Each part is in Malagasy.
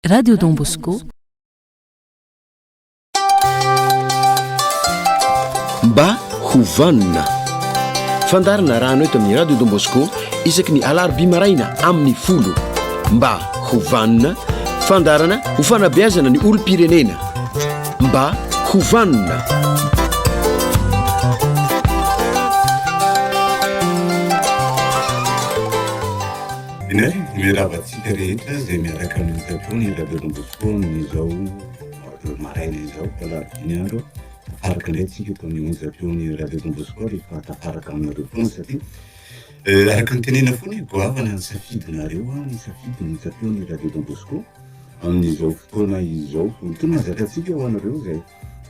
Radio Don Bosco. Mba ho vanona. Fandarina rano eto amin'ny Radio Don Bosco isaky ny alarobia maraina amin'ny folo. Mba ho vanona. Fandarana ho fanabeazana ny olom-pirenena. Mba ho vanona. Inay mirava antsika rehetra izay miaraka amin'ny Japon ny Radio Don Bosco amin'izao marotory maraina izao alarobia andro tafaraka indray tsika eto amin'ny onjy Japon ny Radio Don Bosco rehefa tafaraka aminareo foana satria eh, araka ny tenena foana goavana ny safidinareo ah, ny safidin'ny Japon ny Radio Don Bosco amin'izao fotoana izao tena zakantsika ho anareo izay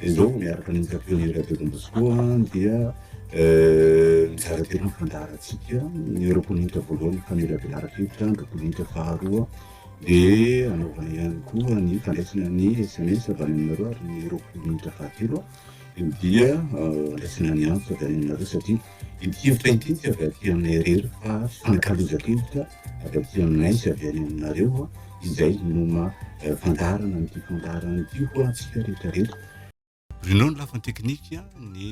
Hello, miaraka amin'ny Capitaine Radio Don Bosco dia mizara telo ny fandaharantsika. Ny roapoloninitra voalohany famelabelaran-kevitra, ny roapoloninitra faharoa dia anaovana ihany koa ny fandraisana ny SMS avy any aminareo ary ny roapoloninitra fahatelo dia andraisana ny antso avy any aminareo satria ity hevitra ity tsy avy aty aminay irery fa fanakalozan-kevitra avy aty aminay sy avy any aminareo izay no maha fandaharana an'ity fandaharana ity ho antsika rehetra rehetra. Bruno ny lafiny teknika, ny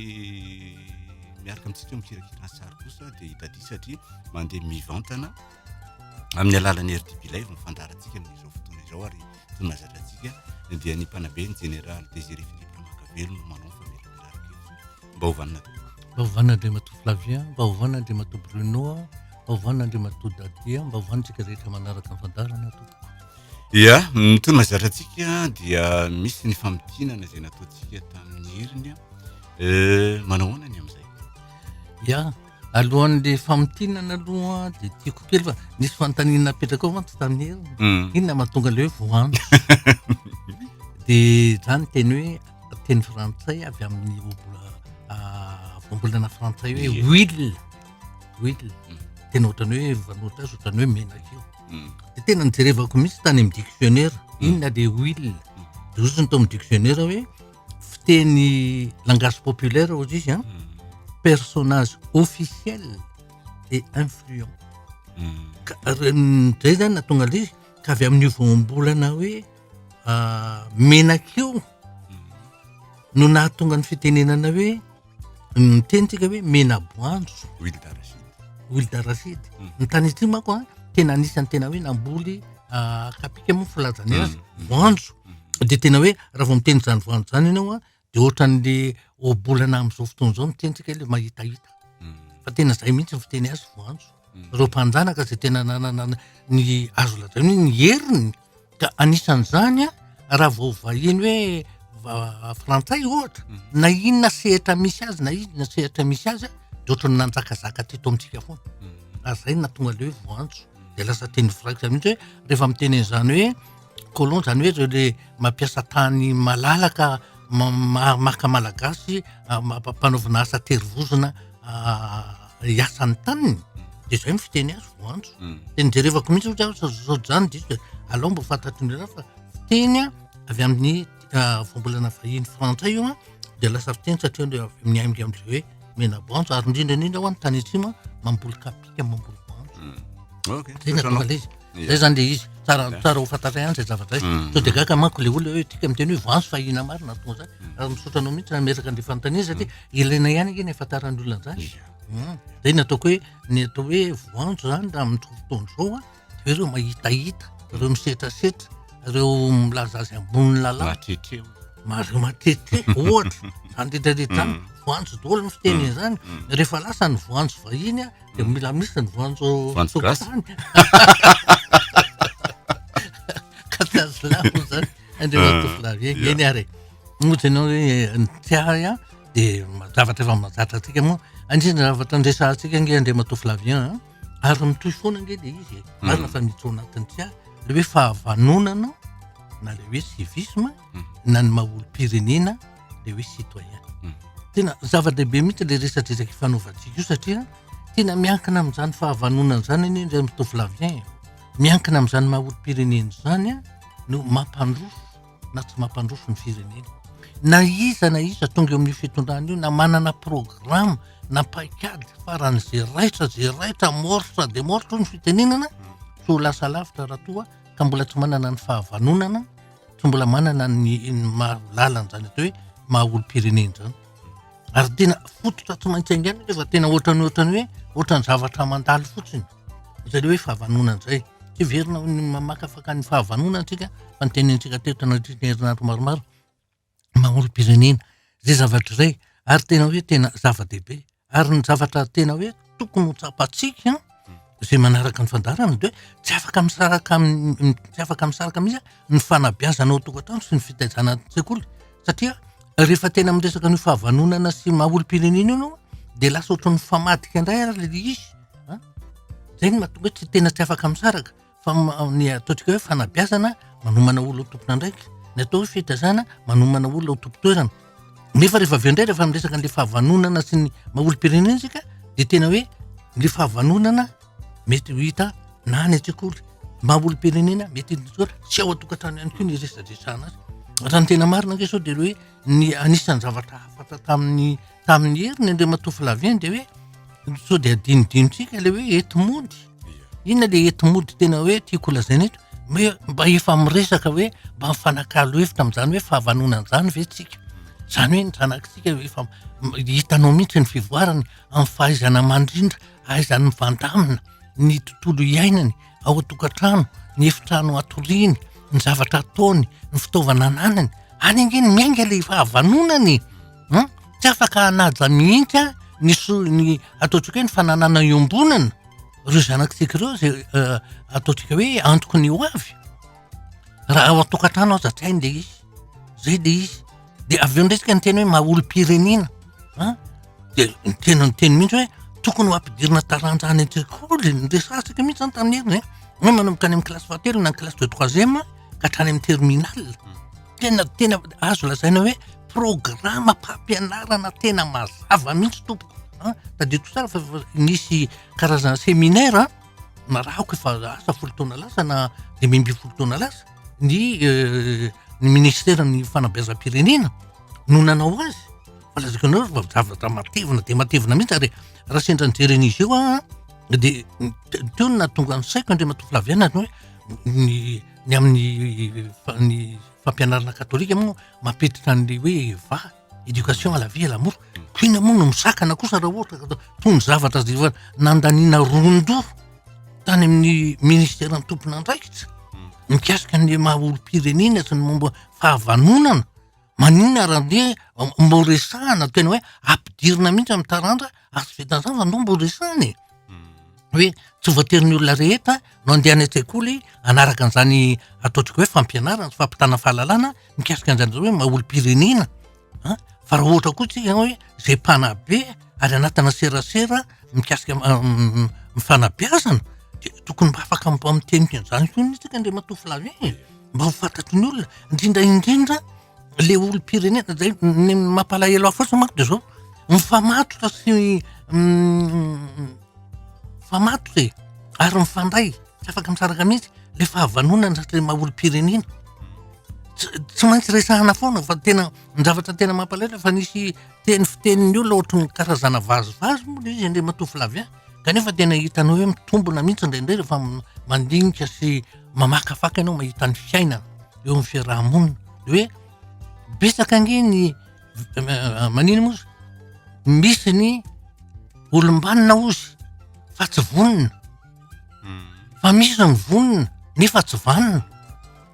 miaraka amintsika mikirakira ny sary kosa dia i Dadi satria mandeha mivantana amin'ny alalan'ny RDB Live ny fandaharantsika amin'izao fotoana izao ary toy mahazatra antsika dia ny mpanabe ny Jeneraly Désiré Philippe Ramakavelo no manao ny famelabelarana kevitra mba ovanina tompoko mba ovanina andriamatoa flavia mba ovanina andriamatoa bruno mba ovanina andriamatoa dadia mba ovanintsika rehetra manaraka ny fandarana tompoko ia mitony mazatra antsika dia misy ny famitinana izay nataontsika tamin'ny heriny eh, manao hoana ny amin'izay ia alohan'le famitinana aloha de tiako kely fa nisy fantanina napetraka ao mantsy tamin'ny heriny hmm. inona mahatonga le hoe voanjo de zany teny hoe teny frantsay avy amin'ny voambolana frantsay hoe huile huile mm. tena ohatrany hoe vanoritra azy ohatrany hoe menaka io mm. de tena nijerevako mihitsy tany amin'ny dictionnaire mm. inona le huile de ozony tao amin'ny dictionnaire hoe fiteny langage populaire ozy izy a personnage officiel et influent ka reny zay zany natonga le izy ka avy amin'io voambolana hoe ah, menaka io no nahatonga ny fitenenana hoe miteny tsika hoe mena boanjo huile d'arachide huile d'arachide mm. ny tany atsimo mako a ah, tena anisan'ny tena hoe namboly ah, kapika moa filazany azy mm. voanjo mm. dia tena hoe raha vao miteny izany voanjo izany ianao a Dia ohatran'le ohabolana amin'izao fotoana izao miteny tsika hoe le mahitahita. Fa tena izay mihitsy ny fiteny azy voanjo. Ireo mpanjanaka izay tena nanana ny azo lazaina hoe ny heriny. Ka anisan'izany raha vao vahiny hoe va- frantsay ohatra, na inona sehatra misy azy na inona sehatra misy azy dia ohatran'ny nanjakazaka teto amintsika foana. Ary izay no nahatonga an'le hoe voanjo. Dia lasa teny viraikitra mihitsy hoe rehefa miteny an'izany hoe. colon zany hoe reo le mampiasa tany malalaka ma- maka malagasy ampanaovina asa tery vozona hiasa ny taniny de zay ny fiteny azy voantso de nijerevako mihitsy ohatra aho zao zao zany diso de aleo mba ho fantatry ny hafa fa fiteny avy amin'ny ka voambolana vahiny frantsay io dia lasa fiteny satria avy amin'ny ainga amin'izay hoe menabanjo ary indrindra indrindra ho any tany atsimo mamboly kapika mamboly banjo hmm. okay. zay natongala izy zay zany le izy tsara tsara ho fantatray ihany zay zavatra izy hmm. to de gaka manko le olona hoe tika miteny hoe vanzo fahina marina tonga zany hmm. ary misaotra anao mihitsy nameraka an'le fanontaniana satria ilaina ihany ake ny afantaran'ny olona an'izany zay nataoko hoe ny atao hoe vanjo zany raha amin'ny fotoana izao a Dia ireo mahitahita, ireo misetrasetra, ireo milaza azy ambonin'ny lalàna. Mahatrehitreho. Mahazo mahatrehitreho, ohatra. Izany rehetra rehetra izany, mm. voanjo daholo ny fiteny mm. izany. Mm. Rehefa lasa ny voanjo vahiny, dia mila misy ny voanjo tokotany. Katazilamo izany, andreo tovolahy eny, eny ary. Moa ianao hoe eh, ny tiahy, dia zavatra efa mazatra antsika moa. Anjina zavatra andresantsika ange Andriamatoa Flavien. ary mitohy foana ange le izy e hmm. marina fa mito anatiny tsy ary le hoe fahavanonana na le hoe civisme hmm. na ny mahaolom-pirenena le hoe citoyen hmm. tena zava-dehibe mihitsy le resadresaka ifanaovantsika io satria tena miankina amin'izany fahavanonana zany anie ndray mitovilavien miankina amin'izany mahaolom-pirenena izany a no mampandroso na tsy mampandroso ny firenena. Na iza na iza tonga eo amin'io fitondrana io na manana programme na paikady faran'izay raitra izay raitra morsa de morsa ny fitenenana tsy ho lasa lavitra raha toa ka mbola tsy manana ny fahavanonana tsy mbola manana ny mahalalana izany atao hoe maha olom-pirenena izany. Ary tena fototra tsy maintsy aingana nefa tena ohatran'ny ohatran'ny hoe ohatran'ny zavatra mandalo fotsiny. izay hoe fahavanona izay. Heverina ny mamakafaka ny fahavanona antsika fa ny teny antsika teto anatrehan'ny herinandro maromaro mamorom-pirenena izay zavatra izay ary tena hoe tena zava-dehibe ary ny zavatra tena hoe tokony ho tsapantsika izay manaraka ny fandarana de tsy afaka misaraka amin'ny tsy afaka misaraka mihitsy ny fanabiazana ao tokantrano sy ny fitaizana sekoly satria rehefa tena miresaka ny fahavanonana sy maha olom-pirenena io ianao dia lasa ohatran'ny mifamadika indray ary ilay izy an, zay no mahatonga tsy tena tsy afaka misaraka fa ny ataontsika hoe fanabeazana manomana olona ho tompon'andraikitra ny atao hoe fitazana manomana olona ho tompon-toerana nefa rehefa avy eo indray rehefa miresaka an'le fahavanonana sy ny maha olom-pirenena isika de tena hoe le fahavanonana mety ho hita na any an-tsekoly maha olom-pirenena mety tsy ao an-tokantrano ihany koa ny resadresahana azy raha ny tena marina ange sao de le hoe Ny anisan'ny zavatra hafatra tamin'ny tamin'ny heriny Andriamatoa Flavien dia hoe sao dia adinodinontsika ilay hoe eto mody. Inona ilay eto mody tena hoe tiako lazaina eto? Hoe mba efa miresaka hoe mba mifanakalo hevitra amin'izany hoe fahavanona an'izany ve tsika? Izany hoe ny zanakitsika efa hitanao mihitsy ny fivoarany amin'ny fahaizana mandrindra, ahaizany mivandamina ny tontolo iainany. ao an-tokantrano, ny efitrano atoriany, ny zavatra ataony, ny fitaovana ananany, any ange ny miainga ilay fahavanonany e! an, tsy afaka hanaja mihitsy an, ny so- ny ataontsika hoe ny fananana iombonana ireo zanakitsika ireo izay ataontsika hoe antoko ny ho avy, raha ao an-tokantrano aza tsy hainy ilay izy, izay ilay izy. De avy eo ndray ny teny hoe maha olom-pirenena an, de tena niteny mihitsy hoe tokony ho ampidirina taranja any an-tsekoly ny resasaka mihitsy zany tamin'ny heriny an, hoe manomboka any amin'ny kilasy fahatelo na ny kilasy de troisième ka hatrany amin'ny terminale, tena tena azo lazaina hoe programam-pampianarana tena mazava mihitsy tompoko an, tadidio tsara fa efa nisy karazana seminaire narahiko efa lasa folo taona lasa na dimy ambin'ny folo taona lasa. ny euh, ny ministera ny fanabeazam-pirenena no nanao azy fa lazako anao fa zavatra matevina de matevina mihitsy ary raha sendra nijery an'izy io a de teo no nahatonga ny saiko andriamatoa flaviana ny hoe ny ny amin'ny fa- ny fampianarana katolika moa mampiditra an'le hoe vahy Education à la vie et l'amour. Koina moa no misakana kosa raha ohatra ka toy ny zavatra izay efa nandaniana ron-doha tany amin'ny ministeran'ny tompon'andraikitra mikasika ny maha olom-pirenena sy ny momba fahavanonana. Maninona raha andeha mbo resahana tena hoe ampidirina mihitsy amin'ny taranja Azo vitan'izany fa anao mbo resahina e. Hoe tsy voatery olona rehetra no andeha any an-tsekoly hanaraka an'izany ataontsika hoe fampianarana sy fampitana fahalalana mikasika an'izany hoe maha olom-pirenena an, fa raha ohatra koa tsika hoe izay mpanabe ary anatina serasera mikasika ny fanabeazana dia tokony mba afaka mba miteny an'izany koa mihitsy tsika Andriamatoa Flavien e, mba ho fantatry ny olona indrindra indrindra le olom-pirenena zay ny mampalahelo ahy fotsiny manko de zao mifamatotra sy mifamatotra e ary mifandray tsy afaka misaraka mihitsy le fahavanonana satria maha olom-pirenena ts- tsy maintsy resahana foana fa tena ny zavatra tena mampalahelo efa nisy teny fitenin'ny olona ohatry ny karazana vazivazy moa le izy andriamatoa Flavien kanefa tena hitanao hoe mitombina mihitsy indraindray rehefa m- mandinika sy mamakafaka ianao mahita ny fiainana. eo amin'ny fiaraha-monina de hoe betsaka ange ny manino moa izy misy ny olom-banona ozy fa tsy vonona hmm. fa misy ny vonona nefa tsy vanona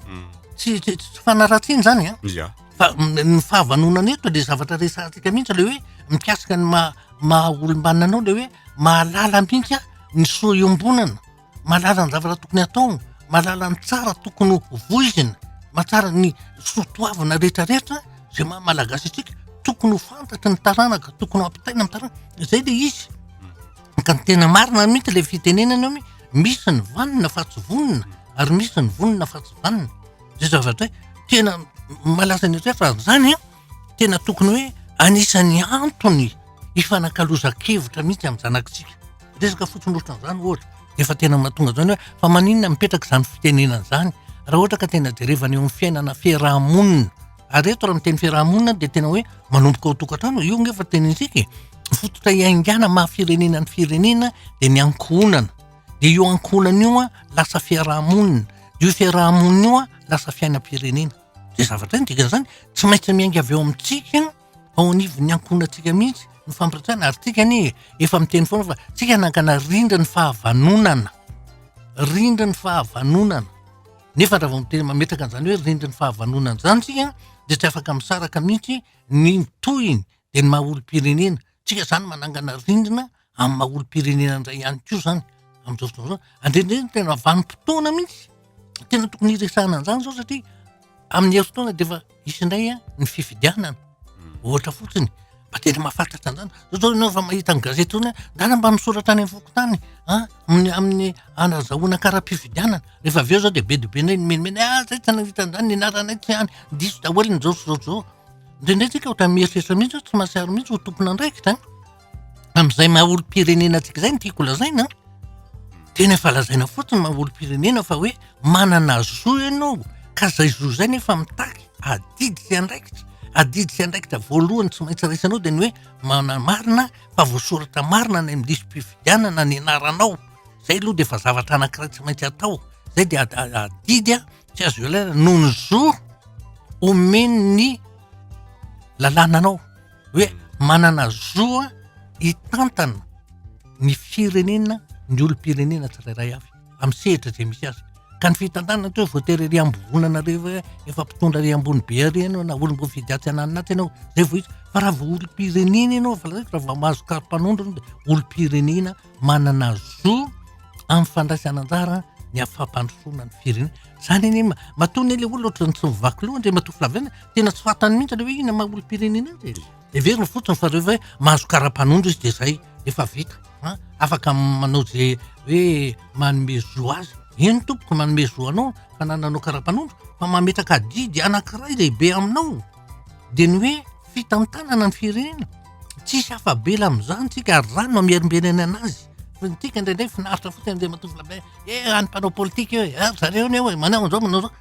hmm. tsy tsy tsy fanaratsiana zany a ah. fa ny fahavanonana eto le zavatra resahantsika mihitsy le hoe mikasika ny maha maha olom-banona anao le hoe mahalala mihitsy a ny soa iombonana mahalala ny zavatra tokony hatao, mahalala ny tsara tokony ho voizina, mahatsara ny soa toavina rehetrarehetra izay maha malagasy antsika, tokony ho fantatry ny taranaka, tokony ho ampitaina amin'ny taranaka, izay ilay izy. Ka ny tena marina mihitsy ilay fitenenana hoe misy ny vanona fa tsy vonona ary misy ny vonona fa tsy vanona. Izay zavatra hoe tena malaza any an-trano raha izany an! tena tokony hoe anisan'ny antony hifanakalozan-kevitra mihitsy amin'ny zanakitsika. Resaka fotsiny ohatran'izany ohatra, dia efa tena mahatonga izany hoe fa maninona mipetraka izany fitenenana izany raha ohatra ka tena jerevana eo amin'ny fiainana fiaraha-monina. Ary eto raha miteny fiaraha-monina dia tena hoe manomboka ao an-tokantrano, io ange efa tenintsika e. Ny fototra iaingana maha firenena ny firenena dia ny ankohonana. Dia io ankohonana io lasa fiaraha-monina, io fiaraha-monina io lasa fiainam-pirenena. Izay zavatra izay no dikan'izany, tsy maintsy miainga avy ao amintsika, ao anivon'ny ankohonantsika mihitsy ny fampiratsana ary tsika anie efa miteny foana fa tsika nangana rindra ny fahavanonana, rindra ny fahavanonana. Nefa raha vao miteny mametraka an'izany hoe rindra ny fahavanonana izany tsika dia tsy afaka misaraka mihitsy ny tohiny dia ny maha olom-pirenena. Tsika izany manangana rindrina amin'ny maha olom-pirenena indray ihany koa izany amin'izao fotoana izao. Andrendreny ny tena vanim-potoana mihitsy, tena tokony hiresahana an'izany izao satria amin'ny herintaona dia efa hisy indray ny fifidianana, ohatra fotsiny. Mba tena mahafatratra an'izany. Zao izao ianao efa mahita ny gazety hoe angaha mba misoratra any amin'ny fokontany an, amin'ny amin'ny hanazahoana kara-pifidianana. Rehefa avy eo izao dia be dia be indray ny mimenimeny, ah izay tsy nahita an'izany, ny anaranay tsy any, diso daholo ny izao sy izao sy izao. Indraindray tsika ohatran'ny mieritreritra mihitsy hoe tsy mahatsiaro mihitsy ho tompon'andraikitra amin'izay maha olom-pirenena antsika izay ny tiako lazaina tena efa lazaina fotsiny maha olom-pirenena fa hoe manana zo ianao ka izay zo izay nefa mitaky adidy sy andraikitra adidy sy andraikitra voalohany tsy maintsy raisanao dia ny hoe manamarina fa voasoratra marina any amin'ny lisi-pifidianana ny anaranao izay aloha dia efa zavatra anankiray tsy maintsy atao izay dia adidy a tsy azo ialaina noho ny zo omen'ny lalàna anao hoe manana zo a hitantana ny firenena ny olom-pirenena tsirairay avy amin'ny sehitra izay misy azy ka ny fitantanana tsy hoe voatery ery ambovonana re hoe efa mpitondra ery ambony be ary ianao na olom-boafidy atsy ananinatsy ianao zay vao izy fa raha vao olom-pirenena ianao fa raha vao mahazo kary mpanondro olom-pirenena manana zo amin'ny fandraisana anjara ny hafampandrosoana ny firenena. Izany anie ma- matoa anie le olona ohatrany tsy mivaky loha Andriamatoa Flavien, tena tsy fantany mihitsy le hoe inona maha olom-pirenena azy e. Heveriny fotsiny fa rehefa hoe mahazo kara-panondro izy dia izay, efa vita an, afaka manao izay hoe manome zo azy. Eny tompoko manome zo anao fanananao kara-panondro fa mametraka adidy anankiray lehibe aminao dia ny hoe fitantanana ny firenena, tsisy afa-bela amin'izany tsika ary izany no hamerimberenana azy, fa ny antsika indraindray finaritra fotsiny Andriamatoa Flabert, eh an'ny mpanao politika io e, ary zareo anie hoe manao an'izao manao an'izao,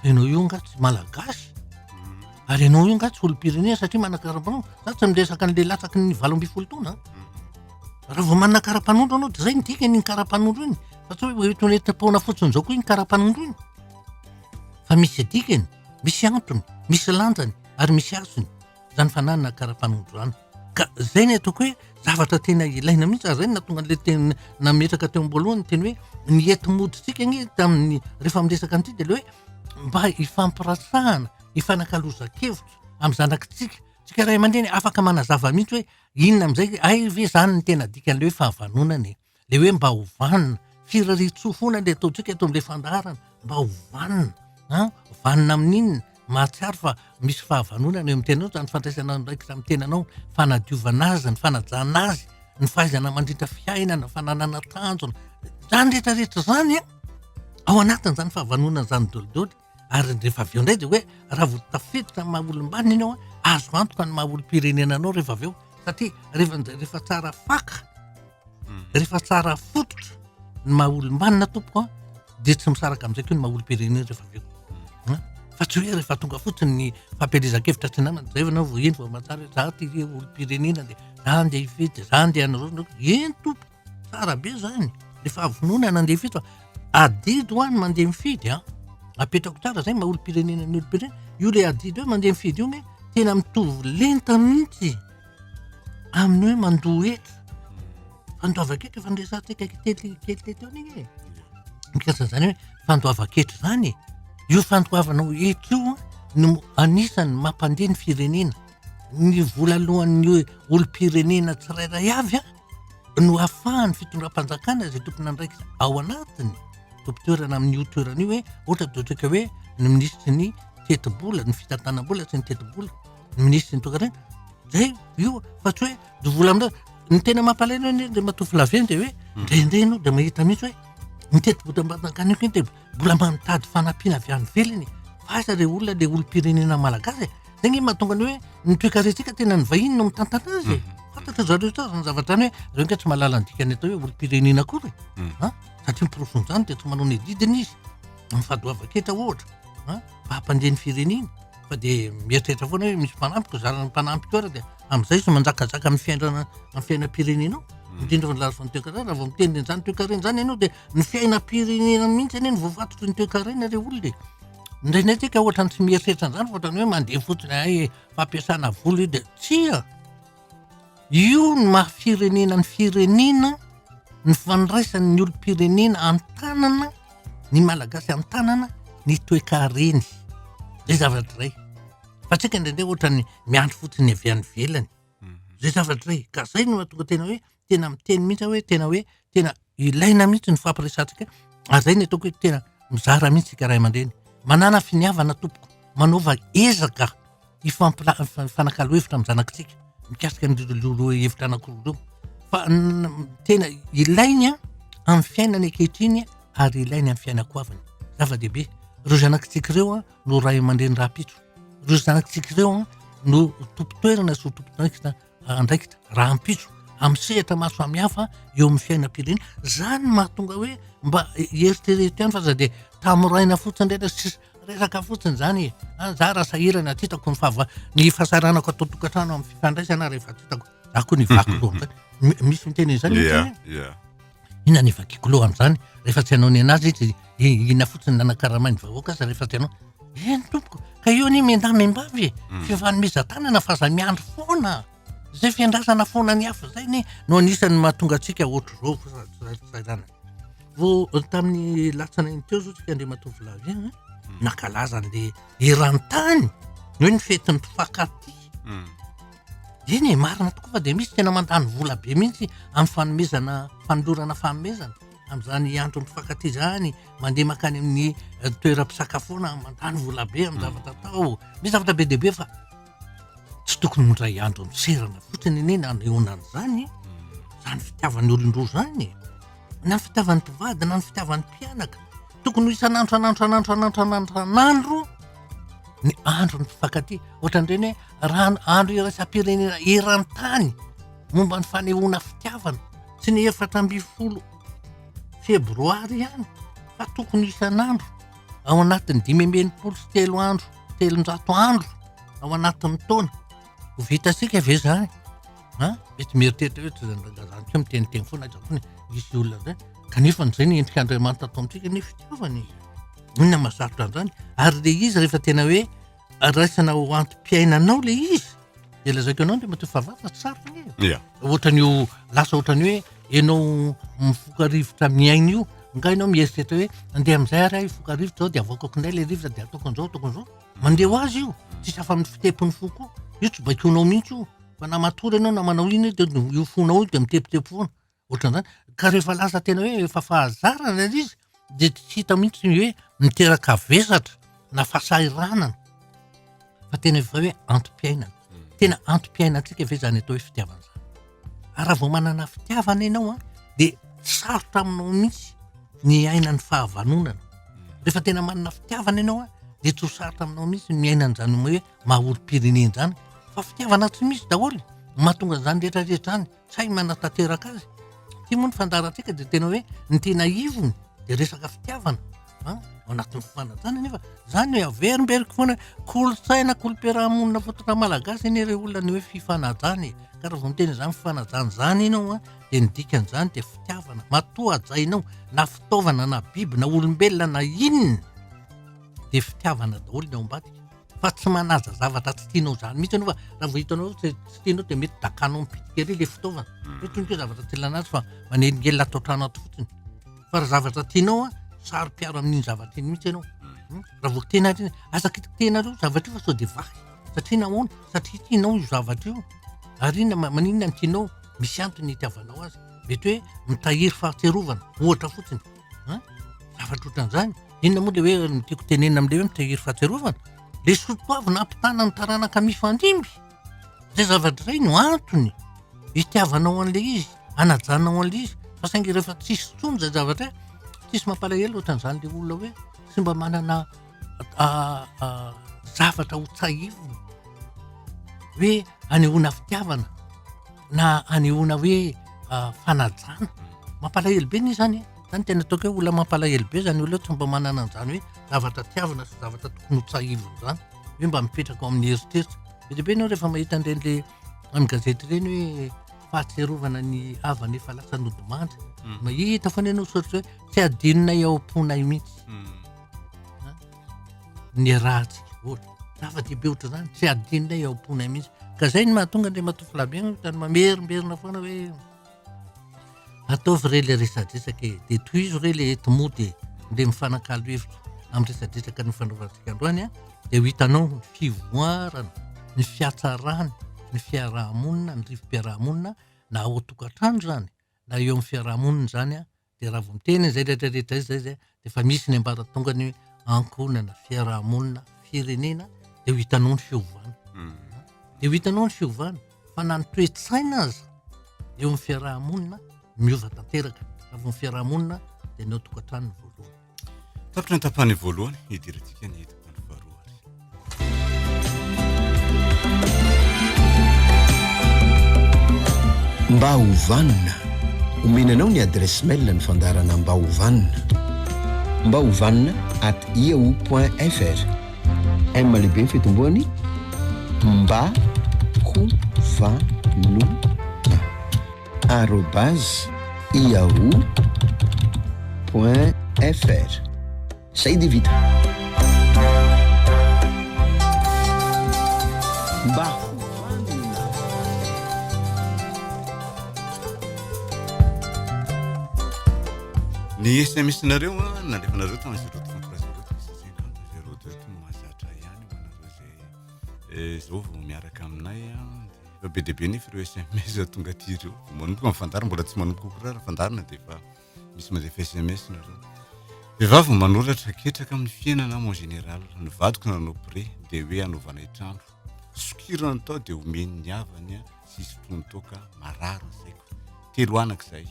fa ianao io angaha tsy Malagasy, ary ianao io angaha tsy olom-pirenena satria manana karapanondro, za tsy miresaka an'ilay latsaky ny valo ambin'ny folo taona an, raha vao manana karapanondro ianao dia izay no dikany iny karapanondro iny, fa tsy hoe ho entin'ny taona fotsiny izao koa iny karapanondro iny, fa misy dikany. Misy antony, misy lanjany ary misy hasiny izany fananana kara-panondro izany. Ka izay no ataoko hoe zavatra tena ilaina mihitsy ary izay no nahatonga an'ilay teny nametraka teo am-boalohany ny teny hoe ny enti-modintsika anie tamin'ny rehefa miresaka an'ity dia ilay hoe mba hifampirasahana, hifanakalozan-kevitra amin'ny zanakitsika. Tsika ray aman-dreny afaka manazava mihitsy hoe inona amin'izay, hay ve izany no tena dikan'ilay hoe fahavanonana e? le hoe mba ho vanona, firarian-tsoa foana le ataontsika eto amle fandaharana, mba ho vanona an, vanona amin'inona? mahatsiaro fa misy fahavanonana eo amin'ny tenanao, zany fandraisana andraikitra amin'ny tenanao, fanadiovana azy, ny fanajana azy, ny fahaizana mandritra fiainana, ny fananana tanjona, zany retraretra zany an, ao anatin'izany fahavanonana zany dolidoly. ary rehefa avy eo indray dia hoe raha vao tafiditra ny maha olom-banona ianao azo antoka ny maha olom-pirenena anao rehefa avy eo satria rehefa rehefa tsara faka hmm. rehefa tsara fototra ny maha olom-banona tompoko a dia tsy misaraka amin'izay koa ny maha olom-pirenena rehefa avy eo hmm. fa tsy hoe rehefa tonga fotsiny ny fampielezan-kevitra tsy namana zay vanao vao eny vao mahatsara hoe za ty olom-pirenena dia za ndeha hifidy za ndeha hanao eny tompoko Tsara be zany, le fahavonona nandeha fito fa adidy hoa ny mandeha mifidy an, ah. apetrako tsara zay maha olom-pirenena ny olom-pirenena, io le adidy hoe mandeha mifidy io anie tena mitovy lenta mihitsy amin'ny hoe mandoa hetra, fandoavan-ketra efa noresahantsika kely kely teo an'iny e, mikasika an'izany hoe fandoavan-ketra izany e, io fandoavanao hetra io an no anisan'ny mampandeha ny firenena, ny vola aloan'ny olom-pirenena tsirairay avy an. no afahan'ny fitondram-panjakana izay tompon'andraikitra ao anatiny tompon-toerana amin'io toerana io hoe ohatra dia ohatraka hoe ny minisitry ny tetibola ny fitantanam-bola sy ny tetibola ny minisitry ny tokantrano zay io fa tsy hoe ny vola amin'ireo ny tena mampalahelo anie dia matoa filaviany dia hoe ndraindray ianao dia mahita mihitsy hoe ny tetibolam-panjakana io kinteba mbola mba nitady fanampiana avy any ivelany e. Fa aiza ilay olona ilay olom-pirenena malagasy e. Izay nge mahatonga ny hoe ny toekarentsika tena ny vahiny no mitantana azy e. Mhm. Fantatra zareo tsara izany zavatra izany hoe zareo nge tsy mahalala ny dikany atao hoe olom-pirenena akory e. Mhm. Ah, satria miporofon-jany dia tsy manao ny adidiny izy. Amin'ny fadoavan-ketra ohatra. Ah, mba hampandeha ny firenena. Fa dia mieritreritra foana hoe misy mpanampiko, zarana mpanampy koa dia amin'izay izy manjakazaka amin'ny fiainana amin'ny fiainam-pirenenao. Mhm. Indrindra fa ny lafiny toekarena raha vao miteny izany toekarena izany ianao dia Ny fiainam-pirenena mihitsy anie no voafatotry ny toekarena ilay olona e. Indraindray tsika ohatrany tsy mieritreritra an'izany fa ohatrany hoe mandeha fotsiny hay e, fampiasana vola io dia tsia. Io no maha firenena ny firenena, ny fandraisan'ny olom-pirenena an-tanana, ny Malagasy an-tanana ny toekareny. Izay zavatra iray. Fa tsika indraindray ohatrany miandry fotsiny avy any ivelany. Izay zavatra iray. Ka izay no mahatonga tena hoe tena miteny mihitsy aho hoe tena hoe tena ilaina mihitsy ny fampiresantsika ary zay ny ataoko hoe tena mizara mihitsy tsika ray aman-dreny manana finiavana tompoko manaova ezaka hifampila- hifanakalo hevitra amin'ny zanakitsika mikasika an'ireo hevitra anankiroa ireo fa tena ilainy an amin'ny fiainany ankehitriny ary ilainy amin'ny fiainako aviny zava-dehibe ireo zanakitsika ireo an no ray aman-dreny rahampitso ireo zanakitsika ireo an no tompon-toerana sy ho tompon-toerana andraikitra rahampitso amin'ny sehatra maro samihafa eo amin'ny fiainam-pirenena zany no mahatonga hoe mba eritrereto ihany fa za dia tamoraina fotsiny indray ilay sisa resaka fotsiny zany e a za raha sahirana tsy hitako ny fahava ny fahasahiranako ato an-tokantrano amin'ny fifandraisana rehefa tsy hitako za koa ny vaky loha amin'izany Mi- misy miteny an'izany Ia, ohatra hoe ia. Inona ny vakiako loha amin'izany? Rehefa tsy hanao ny an'azy izy, inona fotsiny nanakaramain'ny vahoaka aza rehefa tsy hanao? Eny tompoko, ka eo anie miandahy miambavy e, hmm. fifanomezan-tanana fa aza miandry foana. Izay fiandrasana foana ny hafa izay anie no anisan'ny mahatonga antsika ohatr'izao fisainana. Vao eh, tamin'ny latsana iny teo izao tsika Andriamatoa Vilavy eh, hmm. nankalaza an'ilay eran-tany, hoe ny fetin'ny mpifankatia. Hmm. Eny e, marina tokoa fa dia misy tena mandany vola be mihitsy amin'ny fanomezana, fanolorana fanomezana amin'izany andron'ny mpifankatia izany, mandeha mankany amin'ny eh, toeram-pisakafoana, mandany vola be amin'ny hmm. zavatra atao. Misy zavatra be dia be fa tsy tokony mindray andro amin'ny serana fotsiny anie na nehoana an'izany, izany fitiavan'ny olon-droa izany, na ny fitiavan'ny mpivady na ny fitiavan'ny mpianaka. Tokony ho isan'andro, an'andro, an'andro, an'andro, an'andro, an'andro, an'andro ny mpifankatia. Ohatran'ireny hoe raha andro iraisam-pirenena eran-tany momba ny fanehoana fitiavana sy ny efatra ambin'ny folo febroary ihany fa tokony isan'andro ao anatin'ny dimy amby enimpolo sy telo andro telonjato andro ao anatin'ny taona ho vitantsika ve zany a mety mieritreritra hoe tsy zany ko miteniteny foana aiza koa ny misy olona zay kanefa an'izay ny endrika Andriamanitra atao amintsika ny fitiavana e inona mahasarotra an'izany ary le izy rehefa tena hoe raisina ho antom-piainanao le izy de lazaiko anao ndrematoa fa vava sarotra anie e. Yeah. Ohatra ny ho lasa ohatra ny hoe ianao mivoka rivotra amin'ny aina io, nga ianao mieritreritra hoe andeha amin'izay ary aho hivoka rivotra zao de avoakako indray le rivotra de ataoko an'izao ataoko an'izao. Mandeha ho azy io, tsisy afa-amin'ny fitepon'ny fo koa. Io tsy baikoinao mihitsy io, fa na matory ianao na manao inona io de io fonao io de mitepitepo foana. Ohatran'izany. Ka rehefa lasa tena hoe efa fahazarana ilay izy dia tsy hita mihitsy ny hoe miteraka vesatra na fahasahiranana fa tena efa hoe antom-piainana. Hmm. Tena antom-piainantsika ve izany atao hoe fitiavana izany? Ary raha vao manana fitiavana ianao an, dia sarotra aminao mihitsy ny aina ny fahavanonana. Hmm. Rehefa tena manana fitiavana ianao an, dia tsy ho sarotra aminao mihitsy ny aina an'izany hoe maha olom-pirenena izany fa fitiavana tsy misy daholo mahatonga izany rehetra rehetra izany. sahy manatanteraka azy. Ity moa ny fandaharantsika dia tena hoe ny tena ivony dia resaka fitiavana an ao anatin'ny fifanajana nefa zany hoe averimberiko foana kolontsaina kolom-piarahamonina fototra malagasy anie ireo olona ny hoe fifanajana e ka raha vao miteny izany fifanajana izany ianao an dia ny dikan'izany dia fitiavana matoa hajainao na fitaovana na biby na olombelona na inona dia fitiavana daholo ny ao ambadika fa tsy manaja zavatra tsy tianao izany mihitsy ianao fa raha vao hitanao hoe tsy tianao dia mety dakanao mipitiky ery ilay fitaovana hmm. hoe toy ny hoe zavatra tsy ilana azy fa manelingelina ato an-trano ato fotsiny fa raha zavatra tianao a saro-piaro amin'iny zavatra iny mihitsy ianao hmm. Hmm. raha vao tena ry aza kitiky tena reo zavatra io fa sao dia vahy satria nahoana satria tianao io zavatra io ary ina maninona ny tianao misy antony ny itiavanao azy mety hoe mitahiry fahatsiarovana ohatra fotsiny an, zavatra ohatran'izany, inona moa ilay hoe ny tiako tenenina amin'ilay hoe mitahiry fahatsiarovana, ilay soatoavy nampitana ny taranaka mifandimby, izay zavatra izay no antony itiavanao an'ilay izy, anajanao an'ilay izy, fa saingy rehefa tsisy intsony izay zavatra izay, tsisy mampalahelo ohatran'izany ilay olona hoe tsy mba manana zavatra ho tsahivina hoe. anehoana fitiavana na anehoana hoe fanajana mampalahelo be ny zany zany tena ataoko hoe olona mampalahelo be zany olona tsy mba manana an'zany hoe zavatra tiavina sy zavatra tokony ho tsahivina zany hoe mba mipetraka ao amin'ny eritreritra be dia be ianao rehefa mahita an'ireny le amin'ny gazety ireny hoe fahatsiarovana ny havana efa lasa nodimandry mahita foana ianao soratra hoe tsy adinonay ao am-ponay mihitsy niarahantsika ohatra. Zava-dehibe ohatr'izany, tsy hadinonay ao am-ponay mihitsy. Ka izay no mahatonga Andriamatoa Flavien ohatrany mamerimberina foana hoe ataovy re ilay resadresaka e, dia tohizo re ilay enti-mody e, ndeha mifanakalo hevitra amin'ny resadresaka nifanaovantsika androany an, dia ho hitanao ny fivoarana, ny fiatsarana, ny fiaraha-monina, ny rivo-piaraha-monina na ao an-tokantrano izany na eo amin'ny fiaraha-monina izany an, Dia raha vao miteny izay rehetra rehetra izay dia efa misy ny ambaratongany hoe ankohonana, fiarahamonina, firenena dia ho hitanao ny fiovana. Hmm. Dia ho hitanao ny fiovana fa na ny toe-tsaina aza eo amin'ny fiarahamonina miova tanteraka. Raha vao ny fiarahamonina dia ny ao tokantranony voalohany. Tapitra ny tapany voalohany, hidirantsika ny tapany faharoa ary. Mba ho vanona, omena anao ny adresse mail ny fandarana mba ho vanona. Mba ho vanona at yahoo.fr M lehibe ny fitomboany mba ho vanona. arobase yahoo point fr zay dia vita mba ny sms nareo a nalefanareo tamin'ny zéro trente trois zéro trois cent cinquante zéro deux no mahazatra ihany ho anareo zay eh, zao vao miaraka aminay a Efa be dia be nefa ireo SMS tonga aty ireo. Manomboka amin'ny fandaharana, mbola tsy manomboka koa raha fandaharana dia efa misy mandefa SMS nareo. Vehivavy no manoratra, ketraka amin'ny fiainana aho en général. Ny vadiko nanao prêt dia hoe hanaovanay trano. Sokirany tao dia omeny ny havany sy hisotroany toaka, marary ny saiko. Telo anaka izahay.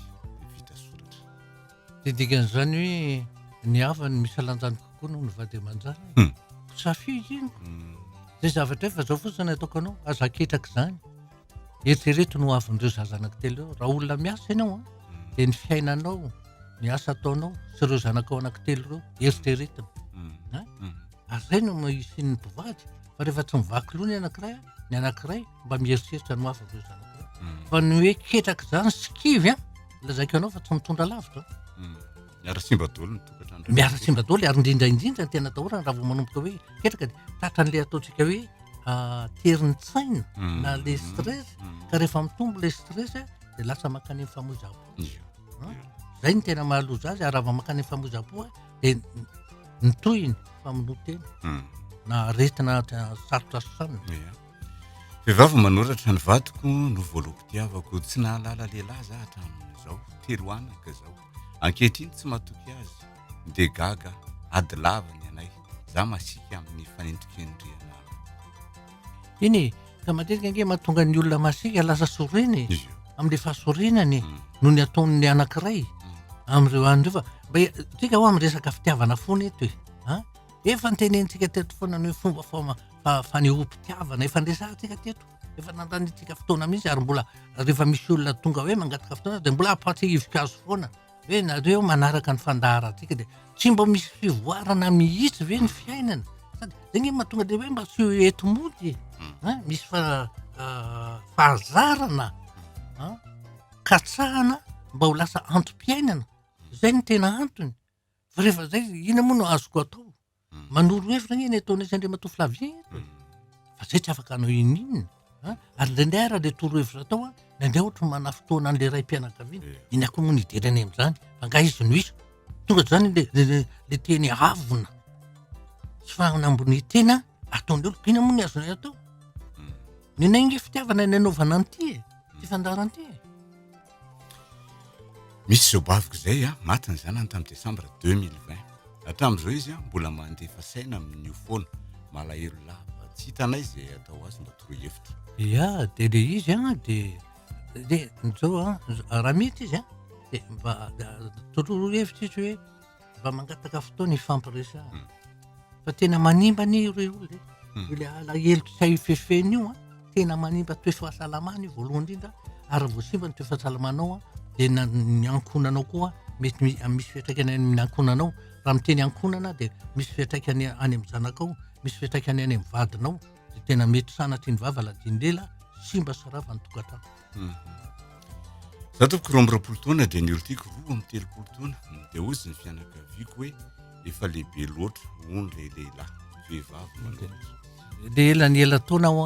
Dia dikan'izany hoe ny havany misy alanjany kokoa noho ny vady aman-jany. Hmm. Safidy iny. Hmm. Zay zavatra efa zao fotsiny ataoko anao, aza aketraka izany. Eritrereto no havin'ireo zaza anankitelo eo. Raha olona miasa ianao, hmm. dia ny fiainanao, ny asa ataonao sy ireo zanakao anankitelo ireo, eritreretina. Ary izay no isian'ny mpivady. Fa rehefa tsy mivaky loha ny anankiray, ny anankiray, mba mieritreritra ny ho avy amin'ireo zanakao. Fa ny hoe ketraka izany sy kivy an, lazaiko anao fa tsy mitondra lavitra. Hmm. Miara simba dolo ny tokatrano. Miara simba dolo ary indrindra indrindra ny tena atahorana raha vao manomboka hoe ketraka dia tratran'ilay ataontsika hoe ah, terin'ny tsaina hmm. na le stress hmm. ka rehefa mitombo le stress dia lasa mankany amin'ny famoizam-po. Zay ny tena mahaloza azy ary raha vao mankany amin'ny famoizam-po dia ny tohiny famonoa tena na aretina sarotra sanina. Vehivavy manoratra ny vadiko no voaloam-pitiavako. Tsy nahalala lehilahy za hatramin'izao. Telo anaka zaho. Ankehitriny tsy matoky azy. Dia gaga aho. Ady lava ny anay. Za masiaka amin'ny fanendrikendrehana ahy. Eny e! Ka matetika ange mahatonga ny olona masiaka lasa sorena e! Izy io. Amin'ilay fahasorenany Mm. noho ny ataon'ny anankiray Mm. amin'ireo anona ireo fa mba e- tsika hoa miresaka fitiavana foana eto e! An? Efa notenenintsika teto foana ny hoe fomba fama- fa fanehoam-pitiavana efa niresahantsika teto efa nandanintsika fotoana mihitsy ary mbola rehefa misy olona tonga hoe mangataka fotoana dia mbola ampahantsika ivokazo foana hoe nareo manaraka ny fandaharantsika dia tsy mba misy fivoarana mihitsy ve ny fiainana sady zay nge mahatonga dia hoe mba tsy ho eto mody e misy fa ah, fahazarana ah, katsahana mba ho lasa antom-piainana zay ny tena antony fa rehefa zay ina moa no azoko atao Manoro hevitra anie ny ataon'i sy Andriamatoa Flavien eto e. Fa izay tsy afaka hanao ininona a. Ary indraindray ara ilay torohevitra atao a, indraindray ohatry ny manafintohina an'ilay raim-pianakaviana. Iny akory moa no hijery anay amin'izany, angaha izy no hisy. Tonga izany ilay ilay ilay teny avona sy fanambonian-tena ataon'ny olona. Inona moa no azonay atao? Ny anay ange fitiavana no anaovana an'ity e, ity fandaharan'ity e. Misy izao baviko izay an, maty ny zanany tamin'ny desambra deux mille vingt. Hatramin'izao izy an, mbola mandefa saina amin'io foana. Malahelo lava. Tsy hitanay izay atao azy, mba toroy hevitra. Ia, dia ilay izy an, dia, dia izao an, raha mety izy an, dia mba toroy hevitra izy hoe. mba mangataka fotoana hifampiresahana hmm. fa tena manimba anie io rey olona hmm. e le alahelo tsy hay fefeny io a tena manimba toefahasalamana io voalohany indrindra ary voasimba ny toefahasalamanaao a dia ny ankonanao koa mety misy fiatraikany any amin'ny ankonanao raha miteny ankonana dia misy fiatraikany any amin'ny zanakao misy fiatraikany any amin'ny vadinao dia tena mety sanatry ny vava ladiany lela simba sy rava ny tokantrano za toko roa ambyroapolo taona dia ny olotiko roa amby telopolo taona dia ozy ny fianakaviako hoe efa lehibe loatra hono le lehilahy vehivavy manoatra de ela ny ela taona ho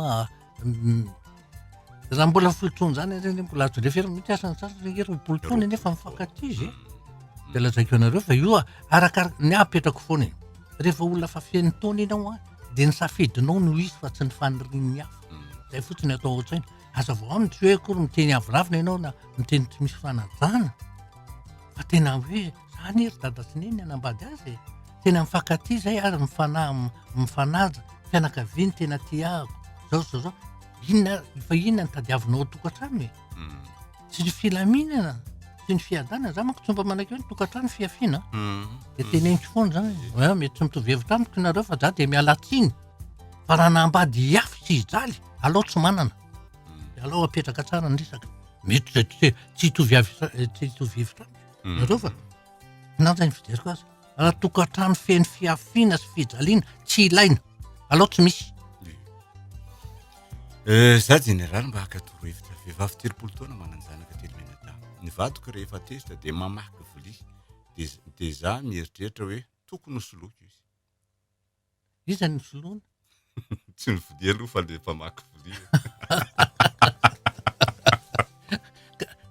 raha mbola folo taona zany ary anie mbola azo lefera mihitsy asa ny sasany re roapolo taona anefa mifankatia izy mm. de lazaiko anareo fa io arakaraka ny apetrako foana e rehefa olona fa feno taona ianao a de ny safidinao no izy fa tsy ny fanirian'ny hafa mm. zay fotsiny atao ao tsaina Hazavao aminy tsy hoe akory miteny avoravina ianao na miteny tsy misy fanajana fa tena hoe zany ery dada sy neny anambady azy e. Tena mifankatia zay ary mifanahy mifanaja fianakaviany tena tiako zao zao zao inona ary fa inona ny tadiavinao ao tokantrano e. Hmm. Tsy ny filaminana sy ny fiadanana za manko tsy mba manakeo ny tokantrano fiafiana. Hmm. De teneniko foana zany. Mety tsy mitovy hevitra amiko nareo fa za de miala tsiny. fa raha nampady hiafy tsy hijaly alao tsy manana dia alao apetraka tsara ny resaka mety izay tsy tsy hitovy avy sa- eh, tsy hitovy hevitra amiko Mm. nareo fa nanja ny fijeriko azy raha tokantrano feno fiafiana sy fijaliana tsy ilaina alao tsy misy Eh, za jeneraly mba haka toro hevitra vehivavy telopolo taona manan-janaka telo menadaha ny vadiko rehefa tezitra dia mamaky vilia dia dia za mieritreritra hoe tokony ho soloiko izy Iza ny filoana? Tsy ny vilia aloha fa le mpamaky vilia.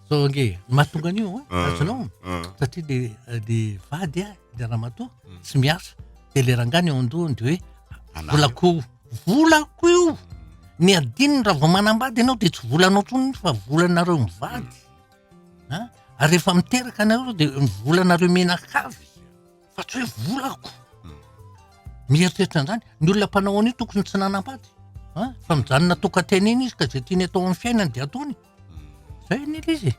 Zao ange, mahatonga an'io an, ah, azonao. Ah, ah. Satria le le vady a, le ramatoa hmm. tsy miasa. Dia le rangahy ny ao an-dohany dia hoe volako volako io. Hmm. Ny adininy raha vao manambady ianao dia tsy volanao intsony fa volanareo mivady. Hmm. Ary rehefa miteraka anareo dia volanareo menakavy. fa tsy hoe volako mieritreritra an'izany ny olona mpanao an'io tokony tsy nanambady a fa mijanona tokan-tena eny izy ka zay tiany atao amin'ny fiainany dia ataony zay ny ilay izy e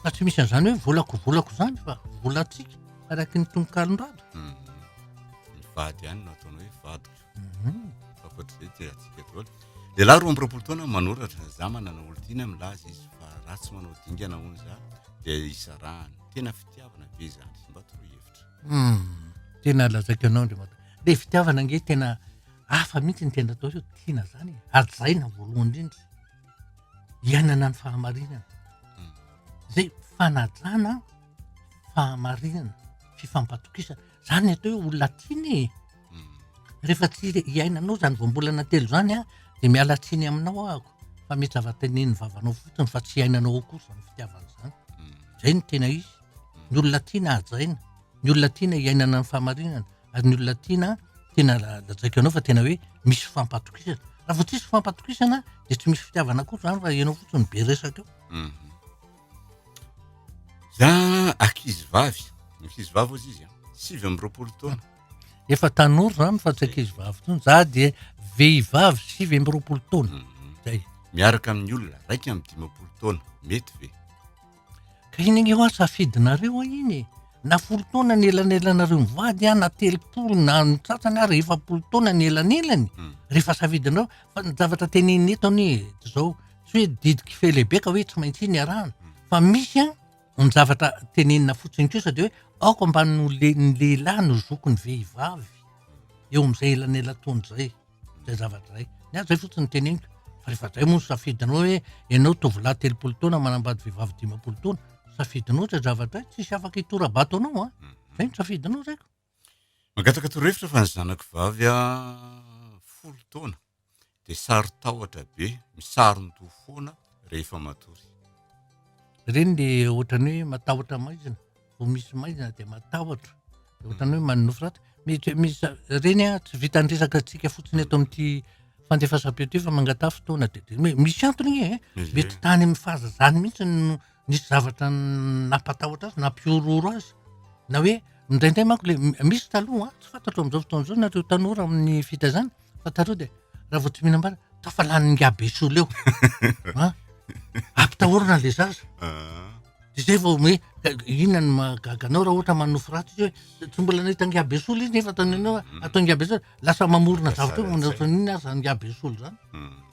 fa tsy misy an'izany hoe volako volako izany fa volantsika araka ny tononkalon-drado ny vady ihany no ataony hoe vadiko Akoatr'izay dia atsika daholo. Lehilahy roa amby roapolo taona manoratra, za manana olon-tiana milaza izy fa raha tsy manao dingana hono za dia isarahana. Tena fitiavana ve izany? Mba toroy hevitra. Hmm. Tena lazaiko anao Andriamatoa. Le fitiavana nge tena hafa mihitsy ny tena atao hoe tiana zany. E. Hajaina voalohany indrindra. Iainana ny fahamarinana. Hmm. Zay fanajana fahamarinana, fifampatokisana. Zany atao hoe olona tiana e. rehefa tsy iainanao zany voambolana telo zany a de miala tsiny aminao ahako fa mety zava-tenenin'ny vavanao fotsiny fa tsy iainanao ao kosa ny fitiavana zany zay no tena izy ny olona tiana hajaina ny olona tiana iainana ny fahamarinana ary ny olona tiana tena lajaiko ianao fa tena hoe misy fampatokisana raha vao tsisy fampatokisana de tsy misy fitiavana koa zany raha ianao fotsiny be resaka eo za ankizy vavy ankizy vavy ozy izy a sivy amby roapolo taona efa tanora zany fa tsy ankizy vavy tony za dia vehivavy sivy amby roapolo taona mhm. zay miaraka amin'ny olona raika amin'ny dimapolo taona mety ve ka iny anie hoa safidinareo a iny e. na folo taona ny elanelanareo mivady a na telopolo na ny tsatsany ary efapolo taona ny elanelany mhm. rehefa safidinareo fa ny zavatra tenenina eto anie zao tsy hoe didikifehlehibe ka hoe tsy maintsy iny arahana mhm. fa misy a Ny zavatra tenenina fotsiny kosa dia hoe aoka mba ny lehilahy no zoky ny vehivavy eo amin'izay elanelataona izay, izay zavatra izay. Ny ahy izay fotsiny no teneniko. Fa rehefa izay moa ny safidinao hoe ianao tovolahy telopolo taona manambady vehivavy dimampolo taona, safidinao izay zavatra izay, tsy hisy afaka hitora-bato anao an! Izay no safidinao zaiko. Mangataka torohevitra fa ny zanako vavy folo taona dia sarotahotra be, misaron-doha foana rehefa matory. Ireny dia ohatran'ny hoe matahotra maizina, vao misy maizina dia matahotra, dia ohatran'ny hoe manonofy ratsy. Mety misy ireny a, tsy vitan'ny resaka antsika fotsiny eto amin'ity fandefasam-peo ity fa mangataha fotoana dia dia hoe misy antony anie e, mety tany amin'ny fahazazany mihitsy no nisy zavatra nampatahotra azy, nampihorohoro azy na hoe indraindray manko le misy taloha tsy fantatro amin'izao fotoana izao nareo tanora amin'ny fitaizana fa taloha dia raha vao tsy mihinam-bary tafalan'ny ngabe sola eo a ampitahorana le zaza ah. dia zay vao hoe inona ny mahagaganao raha ohatra manofy ratsy izy hoe tsy mbola nahita ngabe sola izy nefa ataony anao mm. atao ngabe sola lasa mamorona zavatra hoe manao inona aza ngabe sola zany mm.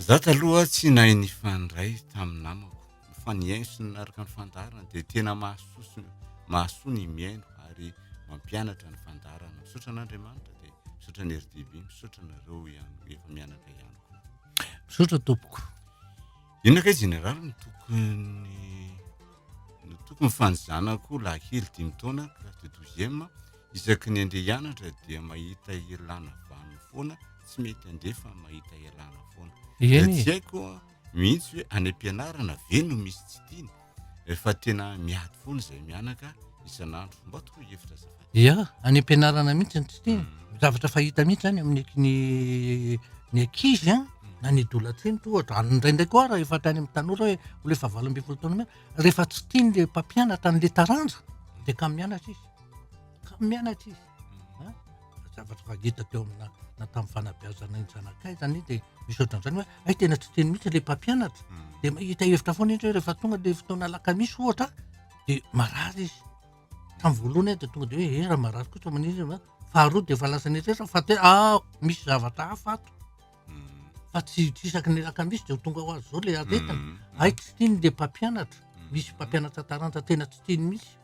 Za taloha tsy nahay nifandray tamin'ny namako. Fa ny ainy sy ny araka ny fandaharana dia tena mahasoa sy mahasoa ny mihaino ary mampianatra ny fandaharana. Misaotra an'Andriamanitra dia misaotra ny RDB, misaotra anareo ihany efa mianatra ihany koa. Misaotra tompoko. Inona kay Jeneraly no tokony no tokony fanizanako lahikely dimy taona classe de douzième isaky ny andeha hianatra dia mahita ialana vaniny foana tsy mety andeha fa mahita ialana foana. Eny e. Tsy haiko mihitsy hoe any am-pianarana ve no misy tsy tiany Rehefa tena miady foana izay mianaka isan'andro, mba toroy hevitra azafady. Ia, any am-pianarana mihitsy no tsy tia. Hmm. Zavatra fahita mihitsy zany amin'ny ny ny ankizy an, hmm. na ny dolatrinty ohatra, ary indraindray koa raha efa tany amin'ny tanora hoe olona efa valo ambin'ny folo taona mianaka, rehefa tsy tian'ilay mpampianatra an'ilay taranja dia kamo mianatra izy, kamo mianatra izy. zavatra efa ngita teo amina na tamin'ny fanabeazana ny zanakay zany de misy ohatran'izany hoe ay tena tsy teny mihitsy le mpampianatra mm. de hita hevitra foana indray rehefa tonga de fotoana alakamisy ohatra de marary izy tamin'ny voalohany de tonga de hoe eh raha marary kosa maniry ah. faharoa de efa lasa netresa fa te a ah, misy zavatra hafa ato mm. fa tsy tsy isaky ny alakamisy de ho tonga ho azy zao le aretina mm. ay tsy tiany le mpampianatra misy mpampianatra taranja tena tsy tiany mihitsy